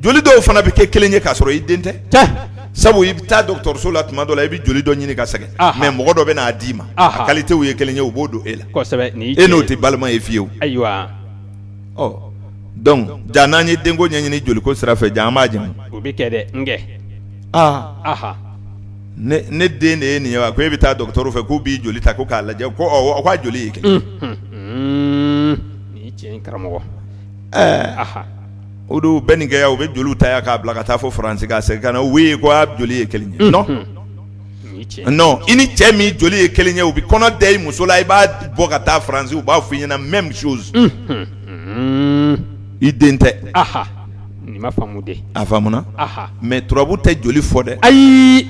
joli dɔw fana bɛ kɛ kelen ye k'a sɔrɔ i den tɛ sabu i bɛ taa dɔgɔtɔrɔso la tuma dɔ la i bɛ joli dɔ ɲini ka sɛgɛn mais mɔgɔ dɔ bɛ n'a d'i ma a kalitew ye kelen ye u b'o don e la e n'o tɛ balima ye fiyewu ayiwa ɔ donc ja n'an ye denko ɲɛɲini joliko sira fɛ ja an b'a jɛ o bɛ kɛ dɛ aaa ne den de ye nin ye wa ko e bɛ taa dɔgɔtɔrɔ fɛ k'u b'i joli ta ko k'a lajɛ ko aw ka joli ye kelen ye tiɲɛ karamɔgɔ o dɔ bɛ nin kɛ yan u bɛ joli ta yan k'a bila ka taa fo faransi k'a segin ka na oui ko a joli ye kelen ye non i ni cɛ min joli ye kelen ye u bɛ kɔnɔ da i muso la i b'a bɔ ka taa faransi u b'a fɔ i ɲɛna même chose i den tɛ a faamuna mais turabu tɛ joli fɔ dɛ ayi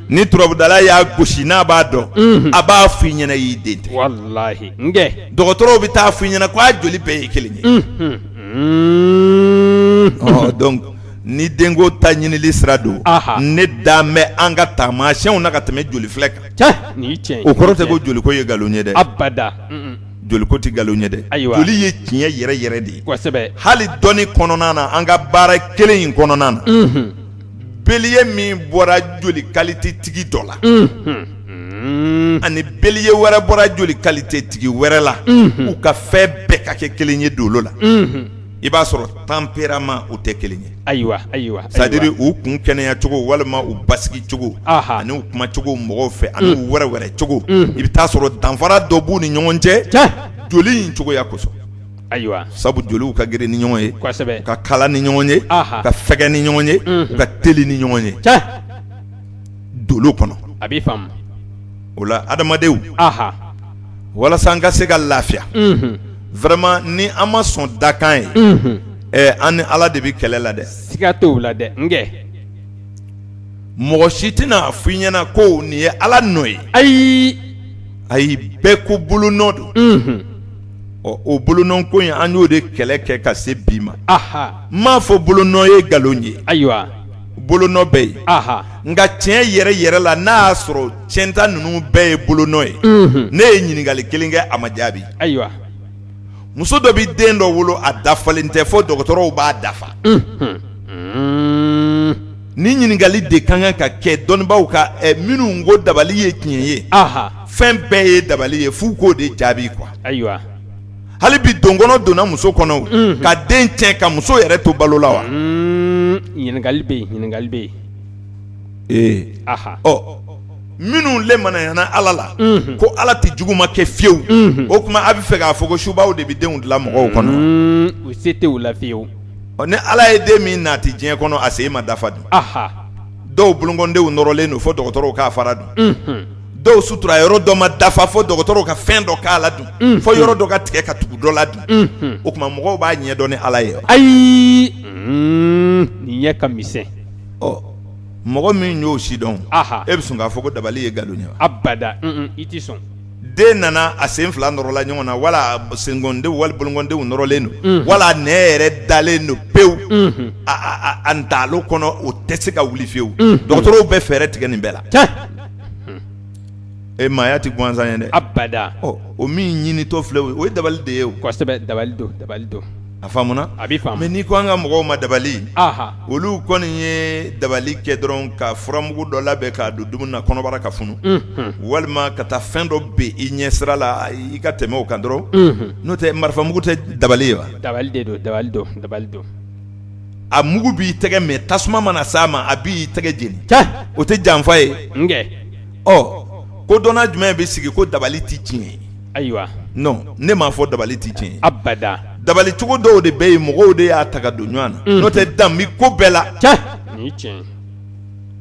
ni turabudala y'a gosi n'a b'a dɔn a b'a fɔ i ɲɛna i den tɛ dɔgɔtɔrɔw bɛ t'a f'i ɲɛna k'a joli bɛɛ ye kelen ye ni denko ta ɲinili sira don ne da bɛ an ka taamasiyɛnw na ka tɛmɛ joli filɛ kan o kɔrɔ tɛ ko joliko ye nkalon ye dɛ joliko tɛ nkalon ye dɛ joli ye tiɲɛ yɛrɛ yɛrɛ de ye hali dɔnni kɔnɔna na an ka baara kelen in kɔnɔna na beliye min bɔra joli kalitetigi dɔ la ani beliye wɛrɛ bɔra joli kalitetigi wɛrɛ la u ka fɛn bɛɛ ka kɛ kelen ye dolo la i b'a sɔrɔ tempérament u tɛ kelen ye ayiwa ayiwa c'est-à-dire u kun kɛnɛyacogo walima u basigi cogo ani u kumacogo mɔgɔw fɛ ani u wɛrɛwɛrɛ cogo i bɛ t'a sɔrɔ danfara dɔ b'u ni ɲɔgɔn cɛ joli in cogoya kosɔn Ayiwa sabu joliw ka girin ni ɲɔgɔn ye ka kalan ni ɲɔgɔn ye ka fɛgɛ ni ɲɔgɔn ye ka teli ni ɲɔgɔn ye dolo kɔnɔ a b'a faamu o la adamadenw walasa an ka se ka lafiya vraiment ni an ma sɔn dakan ye ɛ an ni ala de bɛ kɛlɛ la dɛ siga t'o la dɛ n mɔgɔ si tɛna a f'i ɲɛna ko nin ye ala nɔ ye ayi ayi bɛɛ ko bolonɔ don ɔ o bolonɔ ko in an y'o de kɛlɛ kɛ ka se bi ma aha n m'a fɔ bolonɔ ye nkalon ye ayiwa bolonɔ bɛ yen aha nka tiɲɛ yɛrɛ yɛrɛ la n'a y'a sɔrɔ tiɲɛta ninnu bɛɛ ye bolonɔ ye unhun ne ye ɲininkali kelen kɛ a ma jaabi ayiwa muso dɔ bɛ den dɔ wolo a dafalen tɛ fo dɔgɔtɔrɔw b'a dafa unhun Nin ɲininkali de ka kan ka kɛ dɔnnibaw ka ɛ minnu ko dabali ye tiɲɛ ye a fɛn bɛɛ ye dabali ye f'u k'o de jaabi quoi ayiwa hali bi donkɔnɔ donna muso kɔnɔ ka den tiɲɛ ka muso yɛrɛ to balo la wa ɲininkali bɛ ɲininkali bɛ yen a ɔ minnu limaniyana ala la ko ala tɛ juguman kɛ fiyewu o tuma a bɛ fɛ k'a fɔ ko subaw de bɛ denw dilan mɔgɔw kɔnɔ u se t'o la fiyewu ɔ ni ala ye den min naati diɲɛ kɔnɔ a sen ma dafa dun dɔw bolokɔndenw nɔrɔlen don fɔ dɔgɔtɔrɔw k'a fara dun dɔw sutura yɔrɔ dɔ ma dafa fɔ dɔgɔtɔrɔw ka fɛn dɔ k'a la dun fɔ yɔrɔ dɔ ka tigɛ ka tugu dɔ la dun o tuma mɔgɔw b'a ɲɛ dɔn ni ala ye ayi nin ɲɛ ka misɛn ɔ mɔgɔ min y'o sidɔn e bɛ sɔn k'a fɔ ko dabali ye nkalon ye wa abada i tɛ sɔn den nana a sen fila nɔrɔla ɲɔgɔn na wala sendenw wali bolokɔndenw nɔrɔlen don wala nɛn yɛrɛ dalen don pewu a ntalo kɔnɔ o tɛ se ka wuli fiyewu dɔgɔtɔrɔw bɛ fɛɛrɛ tigɛ nin bɛɛ la e maaya tɛ gansan ye dɛ abada o min ɲinitɔ filɛ o ye dabali de ye dabali dabali a faamuna a bɛ mɛ n'i ko an ka mɔgɔw ma dabali olu kɔni ye dabali kɛ dɔrɔn ka furamugu dɔ labɛn k'a don dumuni na kɔnɔbara ka funu walima ka taa fɛn dɔ bɛn i ɲɛ sira la i ka tɛmɛ o kan dɔrɔn n'o tɛ marifamugu tɛ dabali ye wa dabali don a mugu b'i tɛgɛ mɛ tasuma mana s'a ma a b'i tɛgɛ jeni o tɛ janfa ye ɔ kodɔnna jumɛn bɛ sigi ko dabali tɛ tiɲɛ ye ayiwa non ne m'a fɔ dabali tɛ tiɲɛ ye abada dabali cogo dɔw de bɛ yen mɔgɔw de y'a ta ka don ɲɔgɔn na n'o tɛ dan bɛ ko bɛɛ la tiɲɛ nin ye tiɲɛ ye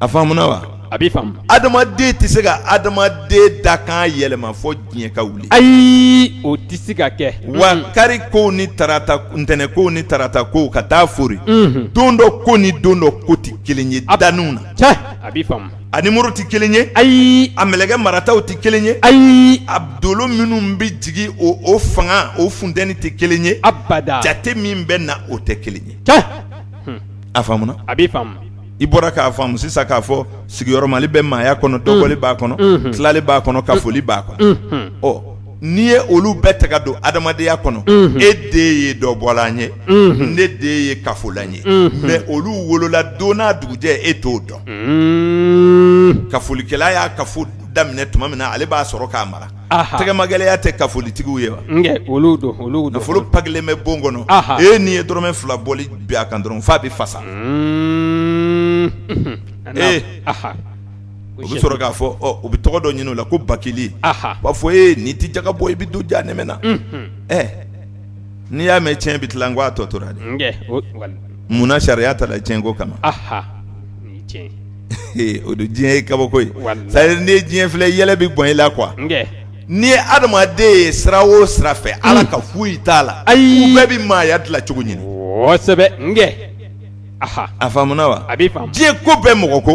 a faamuna wa a b'i faamu adamaden tɛ se ka adamaden dakan yɛlɛma fɔ diɲɛ ka wuli ayi o tɛ se ka kɛ wa kari kow ni tarata ntɛnɛn kow ni tarata kow ka taa fori don dɔ ko ni don dɔ ko tɛ kelen ye daniw na tiɲɛ a b'i faamu A nimɔrɔ tɛ kelen ye ayi a mɛlɛkɛ marataw tɛ kelen ye ayi a dolo minnu bɛ jigin o fanga o funteni tɛ kelen ye abada jate min bɛ na o tɛ kelen ye a faamuna a b'i faamu i bɔra k'a faamu sisan k'a fɔ sigiyɔrɔmali bɛ maaya kɔnɔ dɔbɔli b'a kɔnɔ tilali b'a kɔnɔ kafoli b'a kɔnɔ ɔ n'i ye olu bɛɛ ta ka don adamadenya kɔnɔ e de ye dɔbɔla ye ne de ye kafola ye mɛ olu wolola don n'a dugujɛ e t'o dɔn kafolikɛla y'a kafo daminɛ tuma min na ale b'a sɔrɔ k'a mara tɛgɛmagɛlɛya tɛ kafolitigiw ye wa nafolo pakilen bɛ bon kɔnɔ e n'i ye dɔrɔmɛ fila bɔli bin a kan dɔrɔn f'a bɛ fasa o bɛ sɔrɔ k'a fɔ u bɛ tɔgɔ dɔ ɲini o la ko bakili b'a fɔ e n'i tɛ jaka bɔ i bɛ don janɛmɛ na ɛ n'i y'a mɛn cɛn bɛ tila n ko a tɔ tora dɛ munna sariya tala cɛn ko kama o don diɲɛ ye kabako ye sa n'i ye diɲɛ filɛ yɛlɛ bɛ bɔn i la quoi n'i ye adamaden ye sira o sira fɛ ala ka foyi t'a la u bɛɛ bɛ maaya dilan cogo ɲini kosɛbɛ a faamuna wa a b'i faamu diɲɛ ko bɛɛ mɔgɔ ko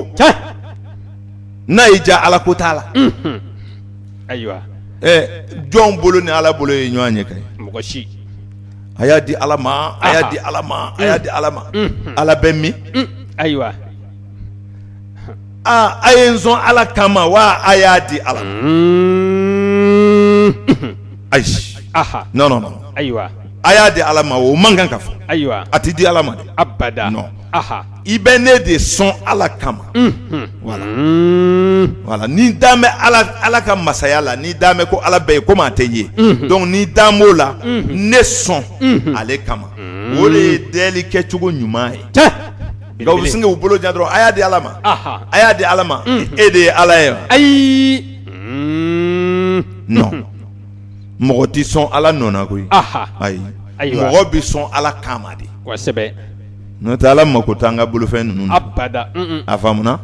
n'a y'i diya ala ko t'a la ayiwa jɔn bolo ni ala bolo ye ɲɔgɔn ɲɛ ka ye mɔgɔ si a y'a di ala ma a y'a di ala ma a y'a di ala ma ala bɛ min ayiwa aa a ye n sɔn ala kama wa a y'a di ala ma ayi non ayiwa a y'a di ala ma o man kan ka fɔ ayiwa a tɛ di ala ma dɛ abada non i bɛ ne de sɔn ala kama voilà voilà n'i dan bɛ ala ka masaya la n'i dan bɛ ko ala bɛ yen komi a tɛ ye donc n'i dan b'o la ne sɔn ale kama o de ye deli kɛcogo ɲuman ye sin k'u bolo jan dɔrɔn a y'a di ala ma a y'a di ala ma e de ye ala ye ayi mɔgɔ tɛ sɔn ala nɔ na koyi ayi mɔgɔ bɛ sɔn ala kama de n'o tɛ ala mako t'an ka bolofɛn ninnu na a faamuna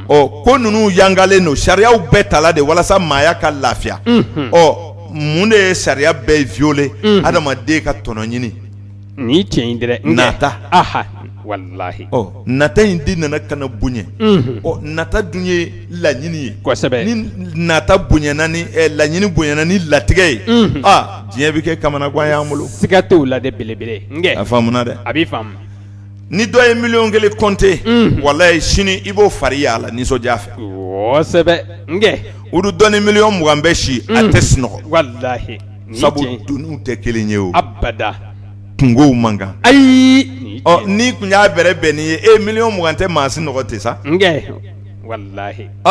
ɔ ko ninnu yangalen don sariyaw bɛɛ tala de walasa maaya ka lafiya ɔ mun de ye sariya bɛɛ violer adamaden ka tɔnɔ ɲini nin ye tiɲɛ ye dɛ nata aha walayi nata in de nana ka na bonya ɔ nata dun ye laɲini ye kosɛbɛ ni nata bonyana ni laɲini bonyana ni latigɛ ye aa diɲɛ bɛ kɛ kamanagan y'an bolo siga t'o la dɛ belebele a faamuna dɛ a b'i faamu ni dɔ ye miliyɔn kelen kɔnte walayi sini i b'o fari y'a la nisɔndiya fɛ kosɛbɛ o dun dɔ ni miliyɔn mugan bɛ si a tɛ sunɔgɔ walayi sabu doniw tɛ kelen ye o abada kungow man kan ayi n'i kun y'a bɛrɛ bɛn nin ye e miliyɔn mugan tɛ maa sinɔgɔ tiɲɛ sa n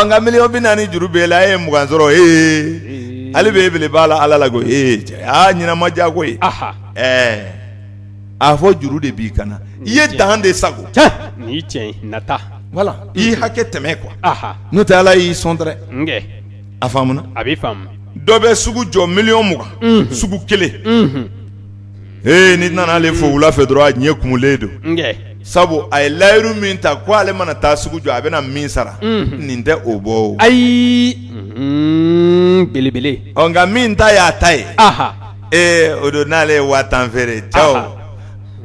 nka miliyɔn bi naani juru b'e la e ye mugan sɔrɔ e hali bi e bele b'a la ala la ko e cɛ ɲɛnama diya ko ye ɛɛ a fɔ juru de b'i kan na i ye dan de sago ni tiɲɛ voilà i ye hakɛ tɛmɛ quoi n'o tɛ ala y'i sɔn dɛrɛ a faamuna a b'i faamu dɔ bɛ sugu jɔ miliyɔn mugan sugu kelen ee n'i nana ale fo wula fɛ dɔrɔn a ɲɛ kumulen don sabu a ye layiru min ta ko ale mana taa sugu jɔ a bɛna min sara nin tɛ o bɔ ayi belebele nka min ta y'a ta ye ee o don n'ale ye waa tan feere ja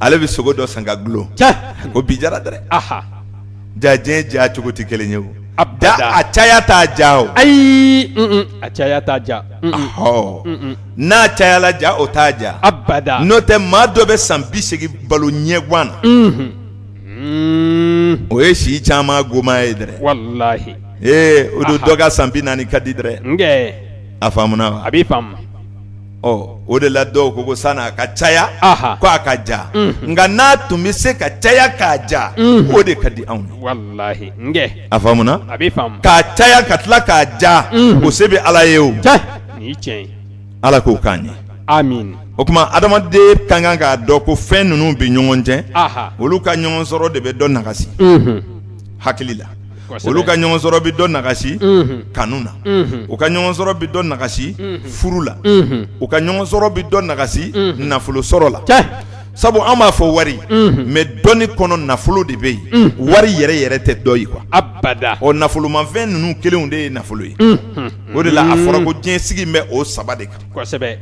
ale bɛ sogo dɔ san ka dulon ko bi jara dɛrɛ ja diɲɛ ja cogo tɛ kelen ye o abada a caya t'a ja o ayi a caya t'a ja ɔ n'a cayala ja o t'a ja abada n'o tɛ maa dɔ bɛ san bi segin balo ɲɛguan na o ye si caman goma ye dɛrɛ walahi ee o don dɔ ka san bi naani ka di dɛrɛ a faamuna wa a b'i faamu o de la dɔw ko ko san'a ka caya ko a ka ja nka n'a tun bɛ se ka caya k'a ja o de ka di anw ye a faamuna k'a caya ka tila k'a ja o se bɛ ala ye o ala k'o k'an ye o tuma adamaden ka kan k'a dɔn ko fɛn ninnu bɛ ɲɔgɔn cɛ olu ka ɲɔgɔn sɔrɔ de bɛ dɔ nagasi hakili la olu ka ɲɔgɔn sɔrɔ bɛ dɔ nagasi kanu na u ka ɲɔgɔn sɔrɔ bɛ dɔ nagasi furu la u ka ɲɔgɔn sɔrɔ bɛ dɔ nagasi nafolo sɔrɔ la sabu an b'a fɔ wari mɛ dɔnni kɔnɔ nafolo de bɛ yen wari yɛrɛ yɛrɛ tɛ dɔ ye kuwa ɔ nafolomafɛn ninnu kelen de ye nafolo ye o de la a fɔra ko diɲɛ sigi bɛ o saba de kan kosɛbɛ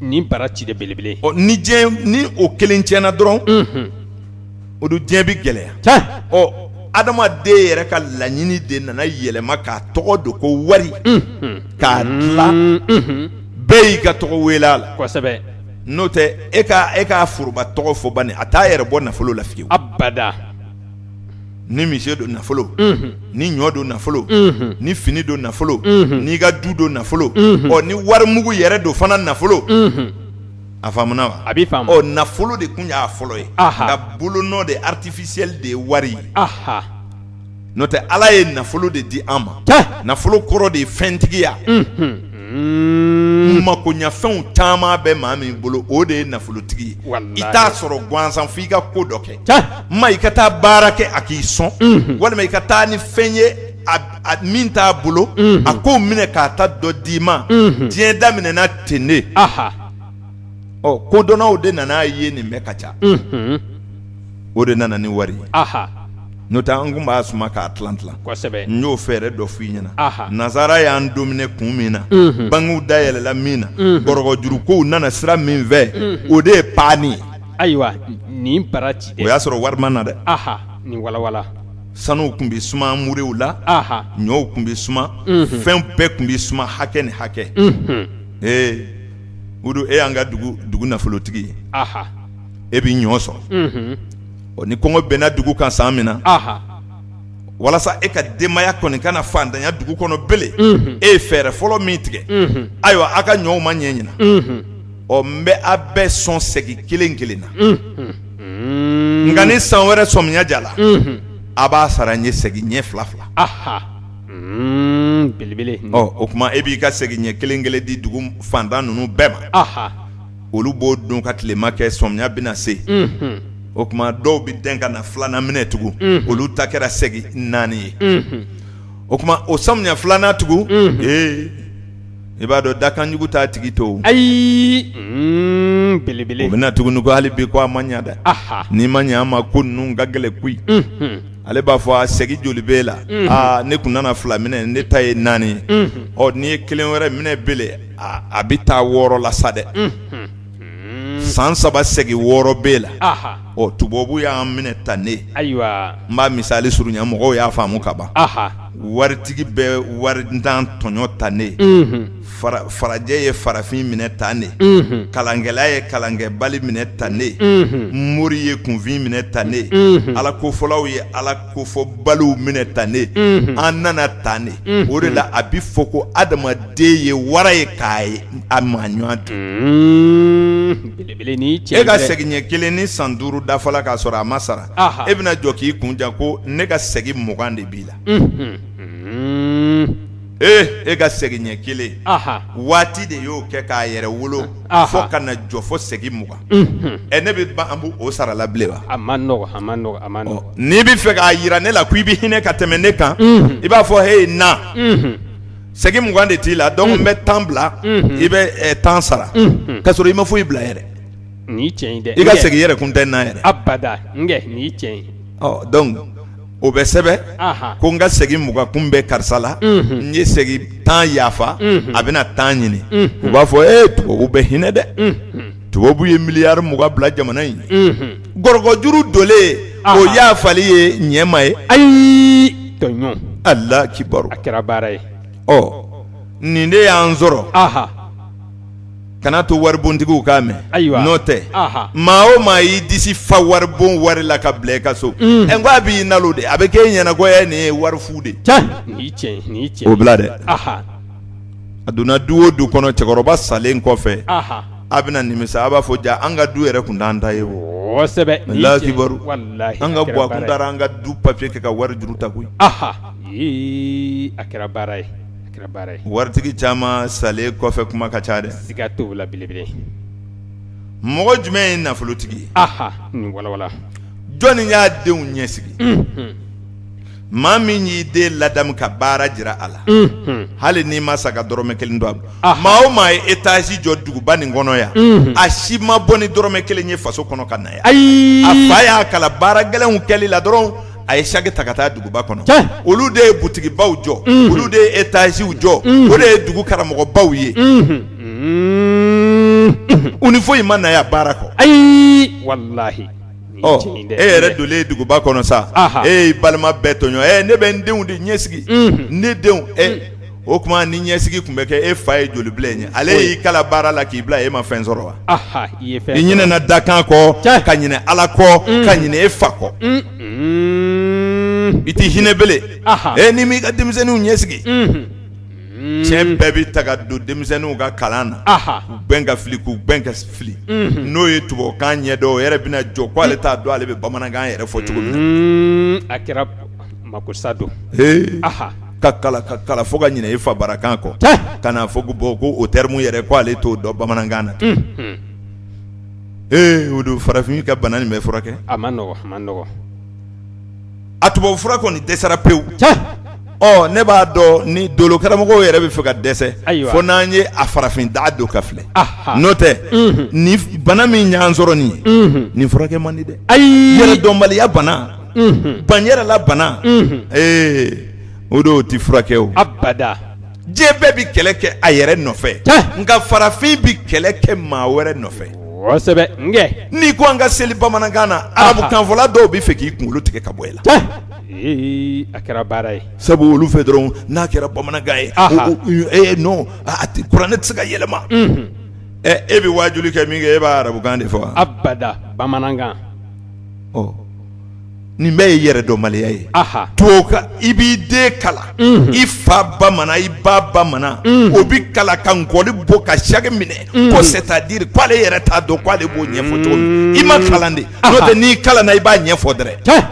ni bara ci de belebele ni ni o kelen tiɲɛna dɔrɔn o don diɲɛ bɛ gɛlɛya ɔ adamaden yɛrɛ ka laɲini de nana yɛlɛma k'a tɔgɔ don ko wari k'a dilan bɛɛ y'i ka tɔgɔ wele a la n'o tɛ e e k'a foroba tɔgɔ fɔ bani a t'a yɛrɛ bɔ nafolo la fiyewu abada ni misi don nafolo ni ɲɔ don nafolo ni fini don nafolo n'i ka du don nafolo ɔ ni wari mugu yɛrɛ don fana nafolo a faamuna wa nafolo de tun y'a fɔlɔ ye nka bolonɔ de artificiel de ye wari ye n'o tɛ Ala ye nafolo de di an ma nafolo kɔrɔ de ye fɛntigiya makoɲɛfɛnw caman bɛ maa min bolo o de ye nafolotigi ye i t'a sɔrɔ gansan fo i ka ko dɔ kɛ ma i ka taa baara kɛ a k'i sɔn walima i ka taa ni fɛn ye min t'a bolo a k'o minɛ k'a ta dɔ d'i ma diɲɛ daminɛna ten de. ɔ kodɔnnaw de nan'a ye nin bɛɛ ka ca o de nana ni wari ye n'o tɛ an tun b'a suma k'a tila n y'o fɛɛrɛ dɔ f'i ɲɛna nansara y'an domine kun min na bankiw dayɛlɛla min na gɔrɔkɔ jurukow nana sira min fɛ o de ye pan ye ayiwa nin bara ci o y'a sɔrɔ wari ma na dɛ nin walawala sanuw tun bɛ suma murew la ɲɔw tun bɛ suma fɛn bɛɛ tun bɛ suma hakɛ ni hakɛ ee Udu e y'an ka dugu nafolotigi ye, anhan, e bɛ ɲɔ sɔrɔ, unhun, ɔ ni kɔngɔ binna dugu kan san min na, anhan, walasa e ka denbaya kɔni kana faantanya dugu kɔnɔ bilen, unhun, e ye fɛɛrɛ fɔlɔ min tigɛ, unhun, ayiwa aw ka ɲɔw ma ɲɛ ɲina, unhun, ɔ n bɛ aw bɛɛ sɔn segi kelen kelen na, unhun, nka ni san wɛrɛ sɔmiya diyara, unhun, a b'a sara n ye segi ɲɛ fila fila, anhan Belebele o tuma e b'i ka segi ɲɛ kelen kelen di dugu fantan ninnu bɛɛ ma olu b'o don ka tilema kɛ samiya bɛna se o tuma dɔw bɛ dɛn ka na filanan minɛ tugun olu ta kɛra segi naani ye o tuma o samiya filanan tugun ee i b'a dɔn dakanjugu t'a tigi to ayi belebele bɛ na tuguni ko hali bi ko a ma ɲɛ dɛ n'i ma ɲɛ a ma ko ninnu ka gɛlɛn koyi ale b'a fɔ a segi joli b'e la aa ne tun nana fila minɛ ne ta ye naani ye ɔ n'i ye kelen wɛrɛ minɛ bele a bɛ taa wɔɔrɔ la sa dɛ san saba segi wɔɔrɔ b'e la ɔ tubabu y'an minɛ tan ne ayiwa n b'a misali surunya mɔgɔw y'a faamu kaban waritigi bɛ warintan tɔɲɔ tan ne farajɛ ye farafin minɛ tan ne kalankɛla ye kalankɛbali minɛ tan ne mori ye kunfin minɛ tan ne ala kofɔlaw ye ala kofɔbaliw minɛ tan ne an nana tan de o de la a bɛ fɔ ko adamaden ye wara ye k'a ye a maɲɔgɔn dun e ka segi ɲɛ kelen ni san duuru dafala k'a sɔrɔ a ma sara e bɛna jɔ k'i kun ja ko ne ka segi mugan de b'i la ee e ka segi ɲɛ kelen waati de y'o kɛ k'a yɛrɛ wolo fo ka na jɔ fo segi mugan ɛ ne bɛ ban an b'o sara la bilen wa a ma n'i bɛ fɛ k'a jira ne la ko i bɛ hinɛ ka tɛmɛ ne kan i b'a fɔ he na segi mugan de t'i la donc n bɛ tan bila i bɛ tan sara ka sɔrɔ i ma foyi bila yɛrɛ i ka segi yɛrɛ kun tɛ n na yɛrɛ o bɛ sɛbɛn ko n ka segi mugan kun bɛ karisa la n ye segi tan yafa a bɛna tan ɲini u b'a fɔ e tubabu bɛ hinɛ dɛ tubabu ye miliyari mugan bila jamana in gɔrɔkɔjuru donlen o yafali ye ɲɛma ye ayi tɔɲɔ alakibaru a kɛra baara ye ɔ nin de y'an sɔrɔ kana to waribontigiw k'a mɛn ayiwa n'o tɛ maa o maa y'i disi fa waribon wari la ka bila i ka so n ko a b'i nalo de a bɛ kɛ e ɲɛ na ko nin ye wari fu de ye o bila dɛ a donna du o du kɔnɔ cɛkɔrɔba salen kɔfɛ a bɛna nimisa a b'a fɔ ja an ka du yɛrɛ tun t'an ta ye o alakibaru an ka bua kun taara an ka du papiye kɛ ka wari juru ta koyi a kɛra baara ye waritigi caman salen kɔfɛ kuma ka ca dɛ mɔgɔ jumɛn ye nafolotigi jɔnni y'a denw ɲɛsigi maa min y'i den ladamu ka baara jira a la hali n'i ma sa ka dɔrɔmɛ kelen don a maa o maa ye etazi jɔ duguba nin kɔnɔ yan a si ma bɔ ni dɔrɔmɛ kelen ye faso kɔnɔ ka na yan a fa y'a kala baara gɛlɛnw kɛli la dɔrɔn a ye saki ta ka taa duguba kɔnɔ olu de ye butigibaw jɔ olu de ye etaziw jɔ o de ye dugu karamɔgɔbaw ye u ni foyi ma na yan baara kɔ ayi walayi e yɛrɛ dolen ye duguba kɔnɔ sa e balima bɛɛ tɔɲɔ ne bɛ n denw de ɲɛsigi ne denw o tuma ni ɲɛsigi tun bɛ kɛ e fa ye joli bila e ye ale y'i kala baara la k'i bila e ma fɛn sɔrɔ wa i ɲinɛna dakan kɔ ka ɲinɛ Ala kɔ mm. ka ɲinɛ e fa kɔ mm. i tɛ hinɛ belen e n'i m'i ka denmisɛnninw ɲɛsigi mm-hmm. tiɲɛ mm. bɛɛ bɛ taa ka don denmisɛnninw ka kalan na k'u gbɛn ka fili k'u gbɛn ka fili mm-hmm. n'o ye tubabukan ɲɛ dɔn o yɛrɛ bɛna jɔ k'ale t'a dɔn ale bɛ bamanankan yɛrɛ fɔ cogo min na a kɛra makosa don ka kala ka kala fo ka ɲinɛ i fa bara kan kɔ tiɲɛ ka na fɔ ko bon ko o terme yɛrɛ ko ale t'o dɔn bamanankan na unhun ee o don farafin ka bana nin bɛ furakɛ a man nɔgɔn a man nɔgɔn a tubabu fura kɔni dɛsɛra pewu tiɲɛ ɔ ne b'a dɔn ni dolo karamɔgɔw yɛrɛ bɛ fɛ ka dɛsɛ Ayiwa. fo n'an ye a farafin da don ka filɛ Aha. n'o tɛ Unhun. ni f- bana min y'an sɔrɔ nin ye unhun nin furakɛ man di dɛ ayi yɛrɛdɔnbaliya bana banyɛrɛla bana ee o don o tɛ furakɛ o abada diɲɛ bɛɛ bɛ kɛlɛ kɛ a yɛrɛ nɔfɛ nka farafin bɛ kɛlɛ kɛ maa wɛrɛ nɔfɛ kosɛbɛ nkɛ n'i ko an ka seli bamanankan na arabukanfɔla dɔw bɛ fɛ k'i kunkolo tigɛ ka bɔ i la ee a kɛra baara ye sabu olu fɛ dɔrɔn n'a kɛra bamanankan ye ee non a tɛ kuranɛ tɛ se ka yɛlɛma e bɛ waajuli kɛ min kɛ e b'a arabukan de fɔ wa abada bamanankan nin bɛɛ ye yɛrɛdɔnbaliya ye to i b'i den kala i fa bamanan i ba bamanan o bɛ kala ka nkɔli bɔ ka saki minɛ ko c'est-à-dire k'ale yɛrɛ t'a dɔn k'ale b'o ɲɛfɔ cogo min i ma kalan de n'o tɛ n'i kalanna i b'a ɲɛfɔ dɛrɛ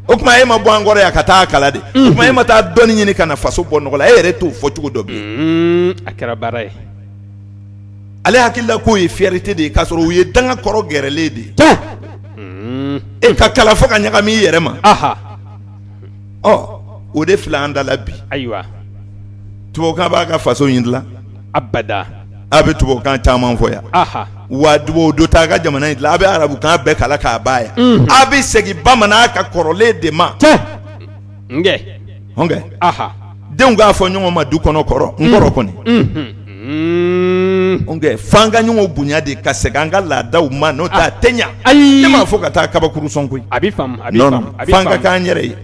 o tuma e ma bɔ an kɔrɔ yan ka taa kala de tuma e ma taa dɔnni ɲini ka na faso bɔ nɔgɔ la e yɛrɛ t'o fɔ cogo dɔn bilen a kɛra baara ye ale hakilila k'o ye fierté de ye k'a sɔrɔ u ye danga kɔrɔ gɛrɛlen de ye e ka kala fo ka ɲagami i yɛrɛ ma o de filɛ an da la bi ayiwa tubabukan b'a ka faso in dila abada a bɛ tubabukan caman fɔ yan wa tubabu don t'a ka jamana in dilan a bɛ arabukan bɛɛ kala k'a ban yan a bɛ segin bamanan ka kɔrɔlen de ma denw k'a fɔ ɲɔgɔn ma du kɔnɔ kɔrɔ n kɔrɔ kɔni f'an ka ɲɔgɔn bonya de ka segin an ka laadaw ma n'o tɛ a tɛ ɲa ne m'a fɔ ka taa kabakuru sɔn koyi f'an ka k'an yɛrɛ ye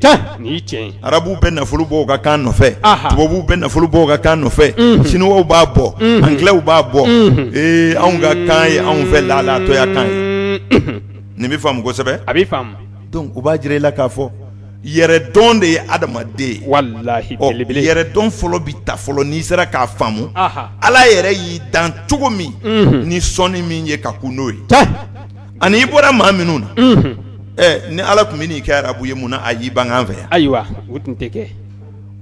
arabuw bɛ nafolo bɔ u ka kan nɔfɛ tubabuw bɛ nafolo bɔ u ka kan nɔfɛ siniwaw b'a bɔ angilɛw b'a bɔ ee anw ka kan ye anw fɛ laalatɔya kan ye nin bɛ faamu kosɛbɛ a bɛ u b'a jira i la k'a fɔ yɛrɛ dɔn de ye adamaden walahi yɛrɛ dɔn fɔlɔ bɛ ta fɔlɔ n'i sera k'a faamu ala yɛrɛ y'i dan cogo min ni sɔɔni min ye ka kun n'o ye ani i bɔra maa minnu na ɛ ni ala tun bɛ n'i kɛ arabu ye mun na a y'i bange an fɛ yan ayiwa o tun tɛ kɛ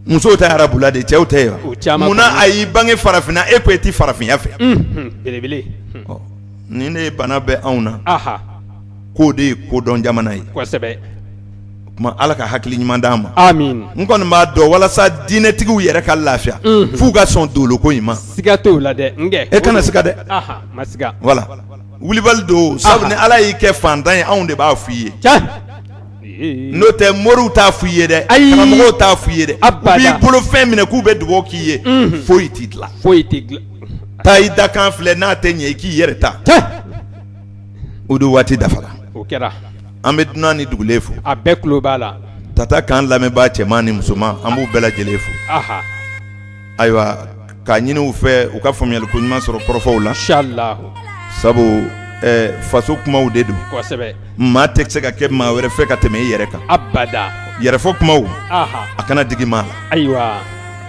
musow tɛ arabula de cɛw tɛ yen wa mun na a y'i bange farafinna e ko e tɛ farafinya fɛ belebele ni ne ye bana bɛ anw na k'o de ye kodɔn jamana ye tuma ala ka hakili ɲuman di an ma n kɔni b'a dɔn walasa diinɛtigiw yɛrɛ ka lafiya f'u ka sɔn doloko in ma siga t'o la dɛ e kana siga dɛ wala wulibali don sabu ni ala y'i kɛ fantan ye anw de b'a fɔ i ye n'o tɛ mori t'a fɔ i ye dɛ karamɔgɔw t'a fɔ i ye dɛ u b'i bolo fɛn minɛ k'u bɛ dugawu k'i ye foyi t'i dila foyi tɛ dila taa i dakan filɛ n'a tɛ ɲɛ i k'i yɛrɛ ta o de waati dafara o kɛra an bɛ dunan ni dugulen fo a bɛɛ tulo b'a la tata kan lamɛnbaa cɛman ni musoman an b'u bɛɛ lajɛlen fo ayiwa k'a ɲini u fɛ u ka faamuyaliko ɲuman sɔrɔ kɔrɔfɔw la sabu faso kumaw de don maa tɛ se ka kɛ maa wɛrɛ fɛ ka tɛmɛ i yɛrɛ kan yɛrɛfɔ kumaw a kana digi maa la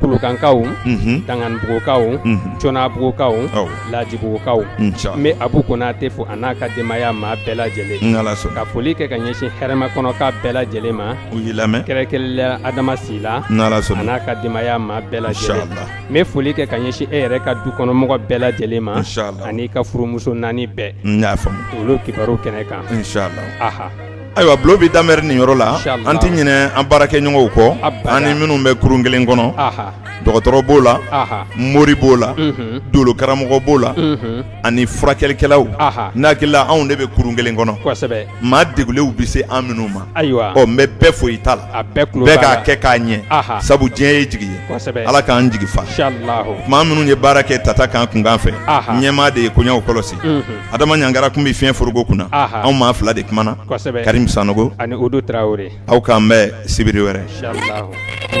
kulukankaw danganibugukaw conabugukaw lajibugukaw n bɛ abu konatɛ fo a n'a ka denbaya maa bɛɛ lajɛlen ka foli kɛ ka ɲɛsin hɛrɛmakɔnɔka bɛɛ lajɛlen ma u y'i lamɛn kɛrɛnkɛrɛnnenya la adama sila n'ala sɔnna n'a ka denbaya maa bɛɛ lajɛlen n bɛ foli kɛ ka ɲɛsin e yɛrɛ ka dukɔnɔmɔgɔ bɛɛ lajɛlen ma an'i ka furumuso naani bɛɛ n'a olu kibaru kɛnɛ kan Ayiwa bulon bɛ daminɛ nin yɔrɔ la an tɛ ɲinɛ an baarakɛɲɔgɔnw kɔ an ni minnu bɛ kurun kelen kɔnɔ dɔgɔtɔrɔ b'o la mori b'o la dolo karamɔgɔ b'o la ani furakɛlikɛlaw n hakili la anw de bɛ kurun kelen kɔnɔ maa degulenw bɛ se an minnu ma ayiwa ɔ n bɛ bɛɛ fo i ta la bɛɛ k'a kɛ k'a ɲɛ sabu diɲɛ ye jigi ye ala k'an jigi fa maa minnu ye baara kɛ tata kan kunkan fɛ ɲɛmaa de ye koɲɛw kɔlɔsi adama ɲangara tun bɛ fiɲɛ foroko kunna anw maa fila de kumana karim sanɔgɔ ani aw k'an bɛn sibiri wɛrɛ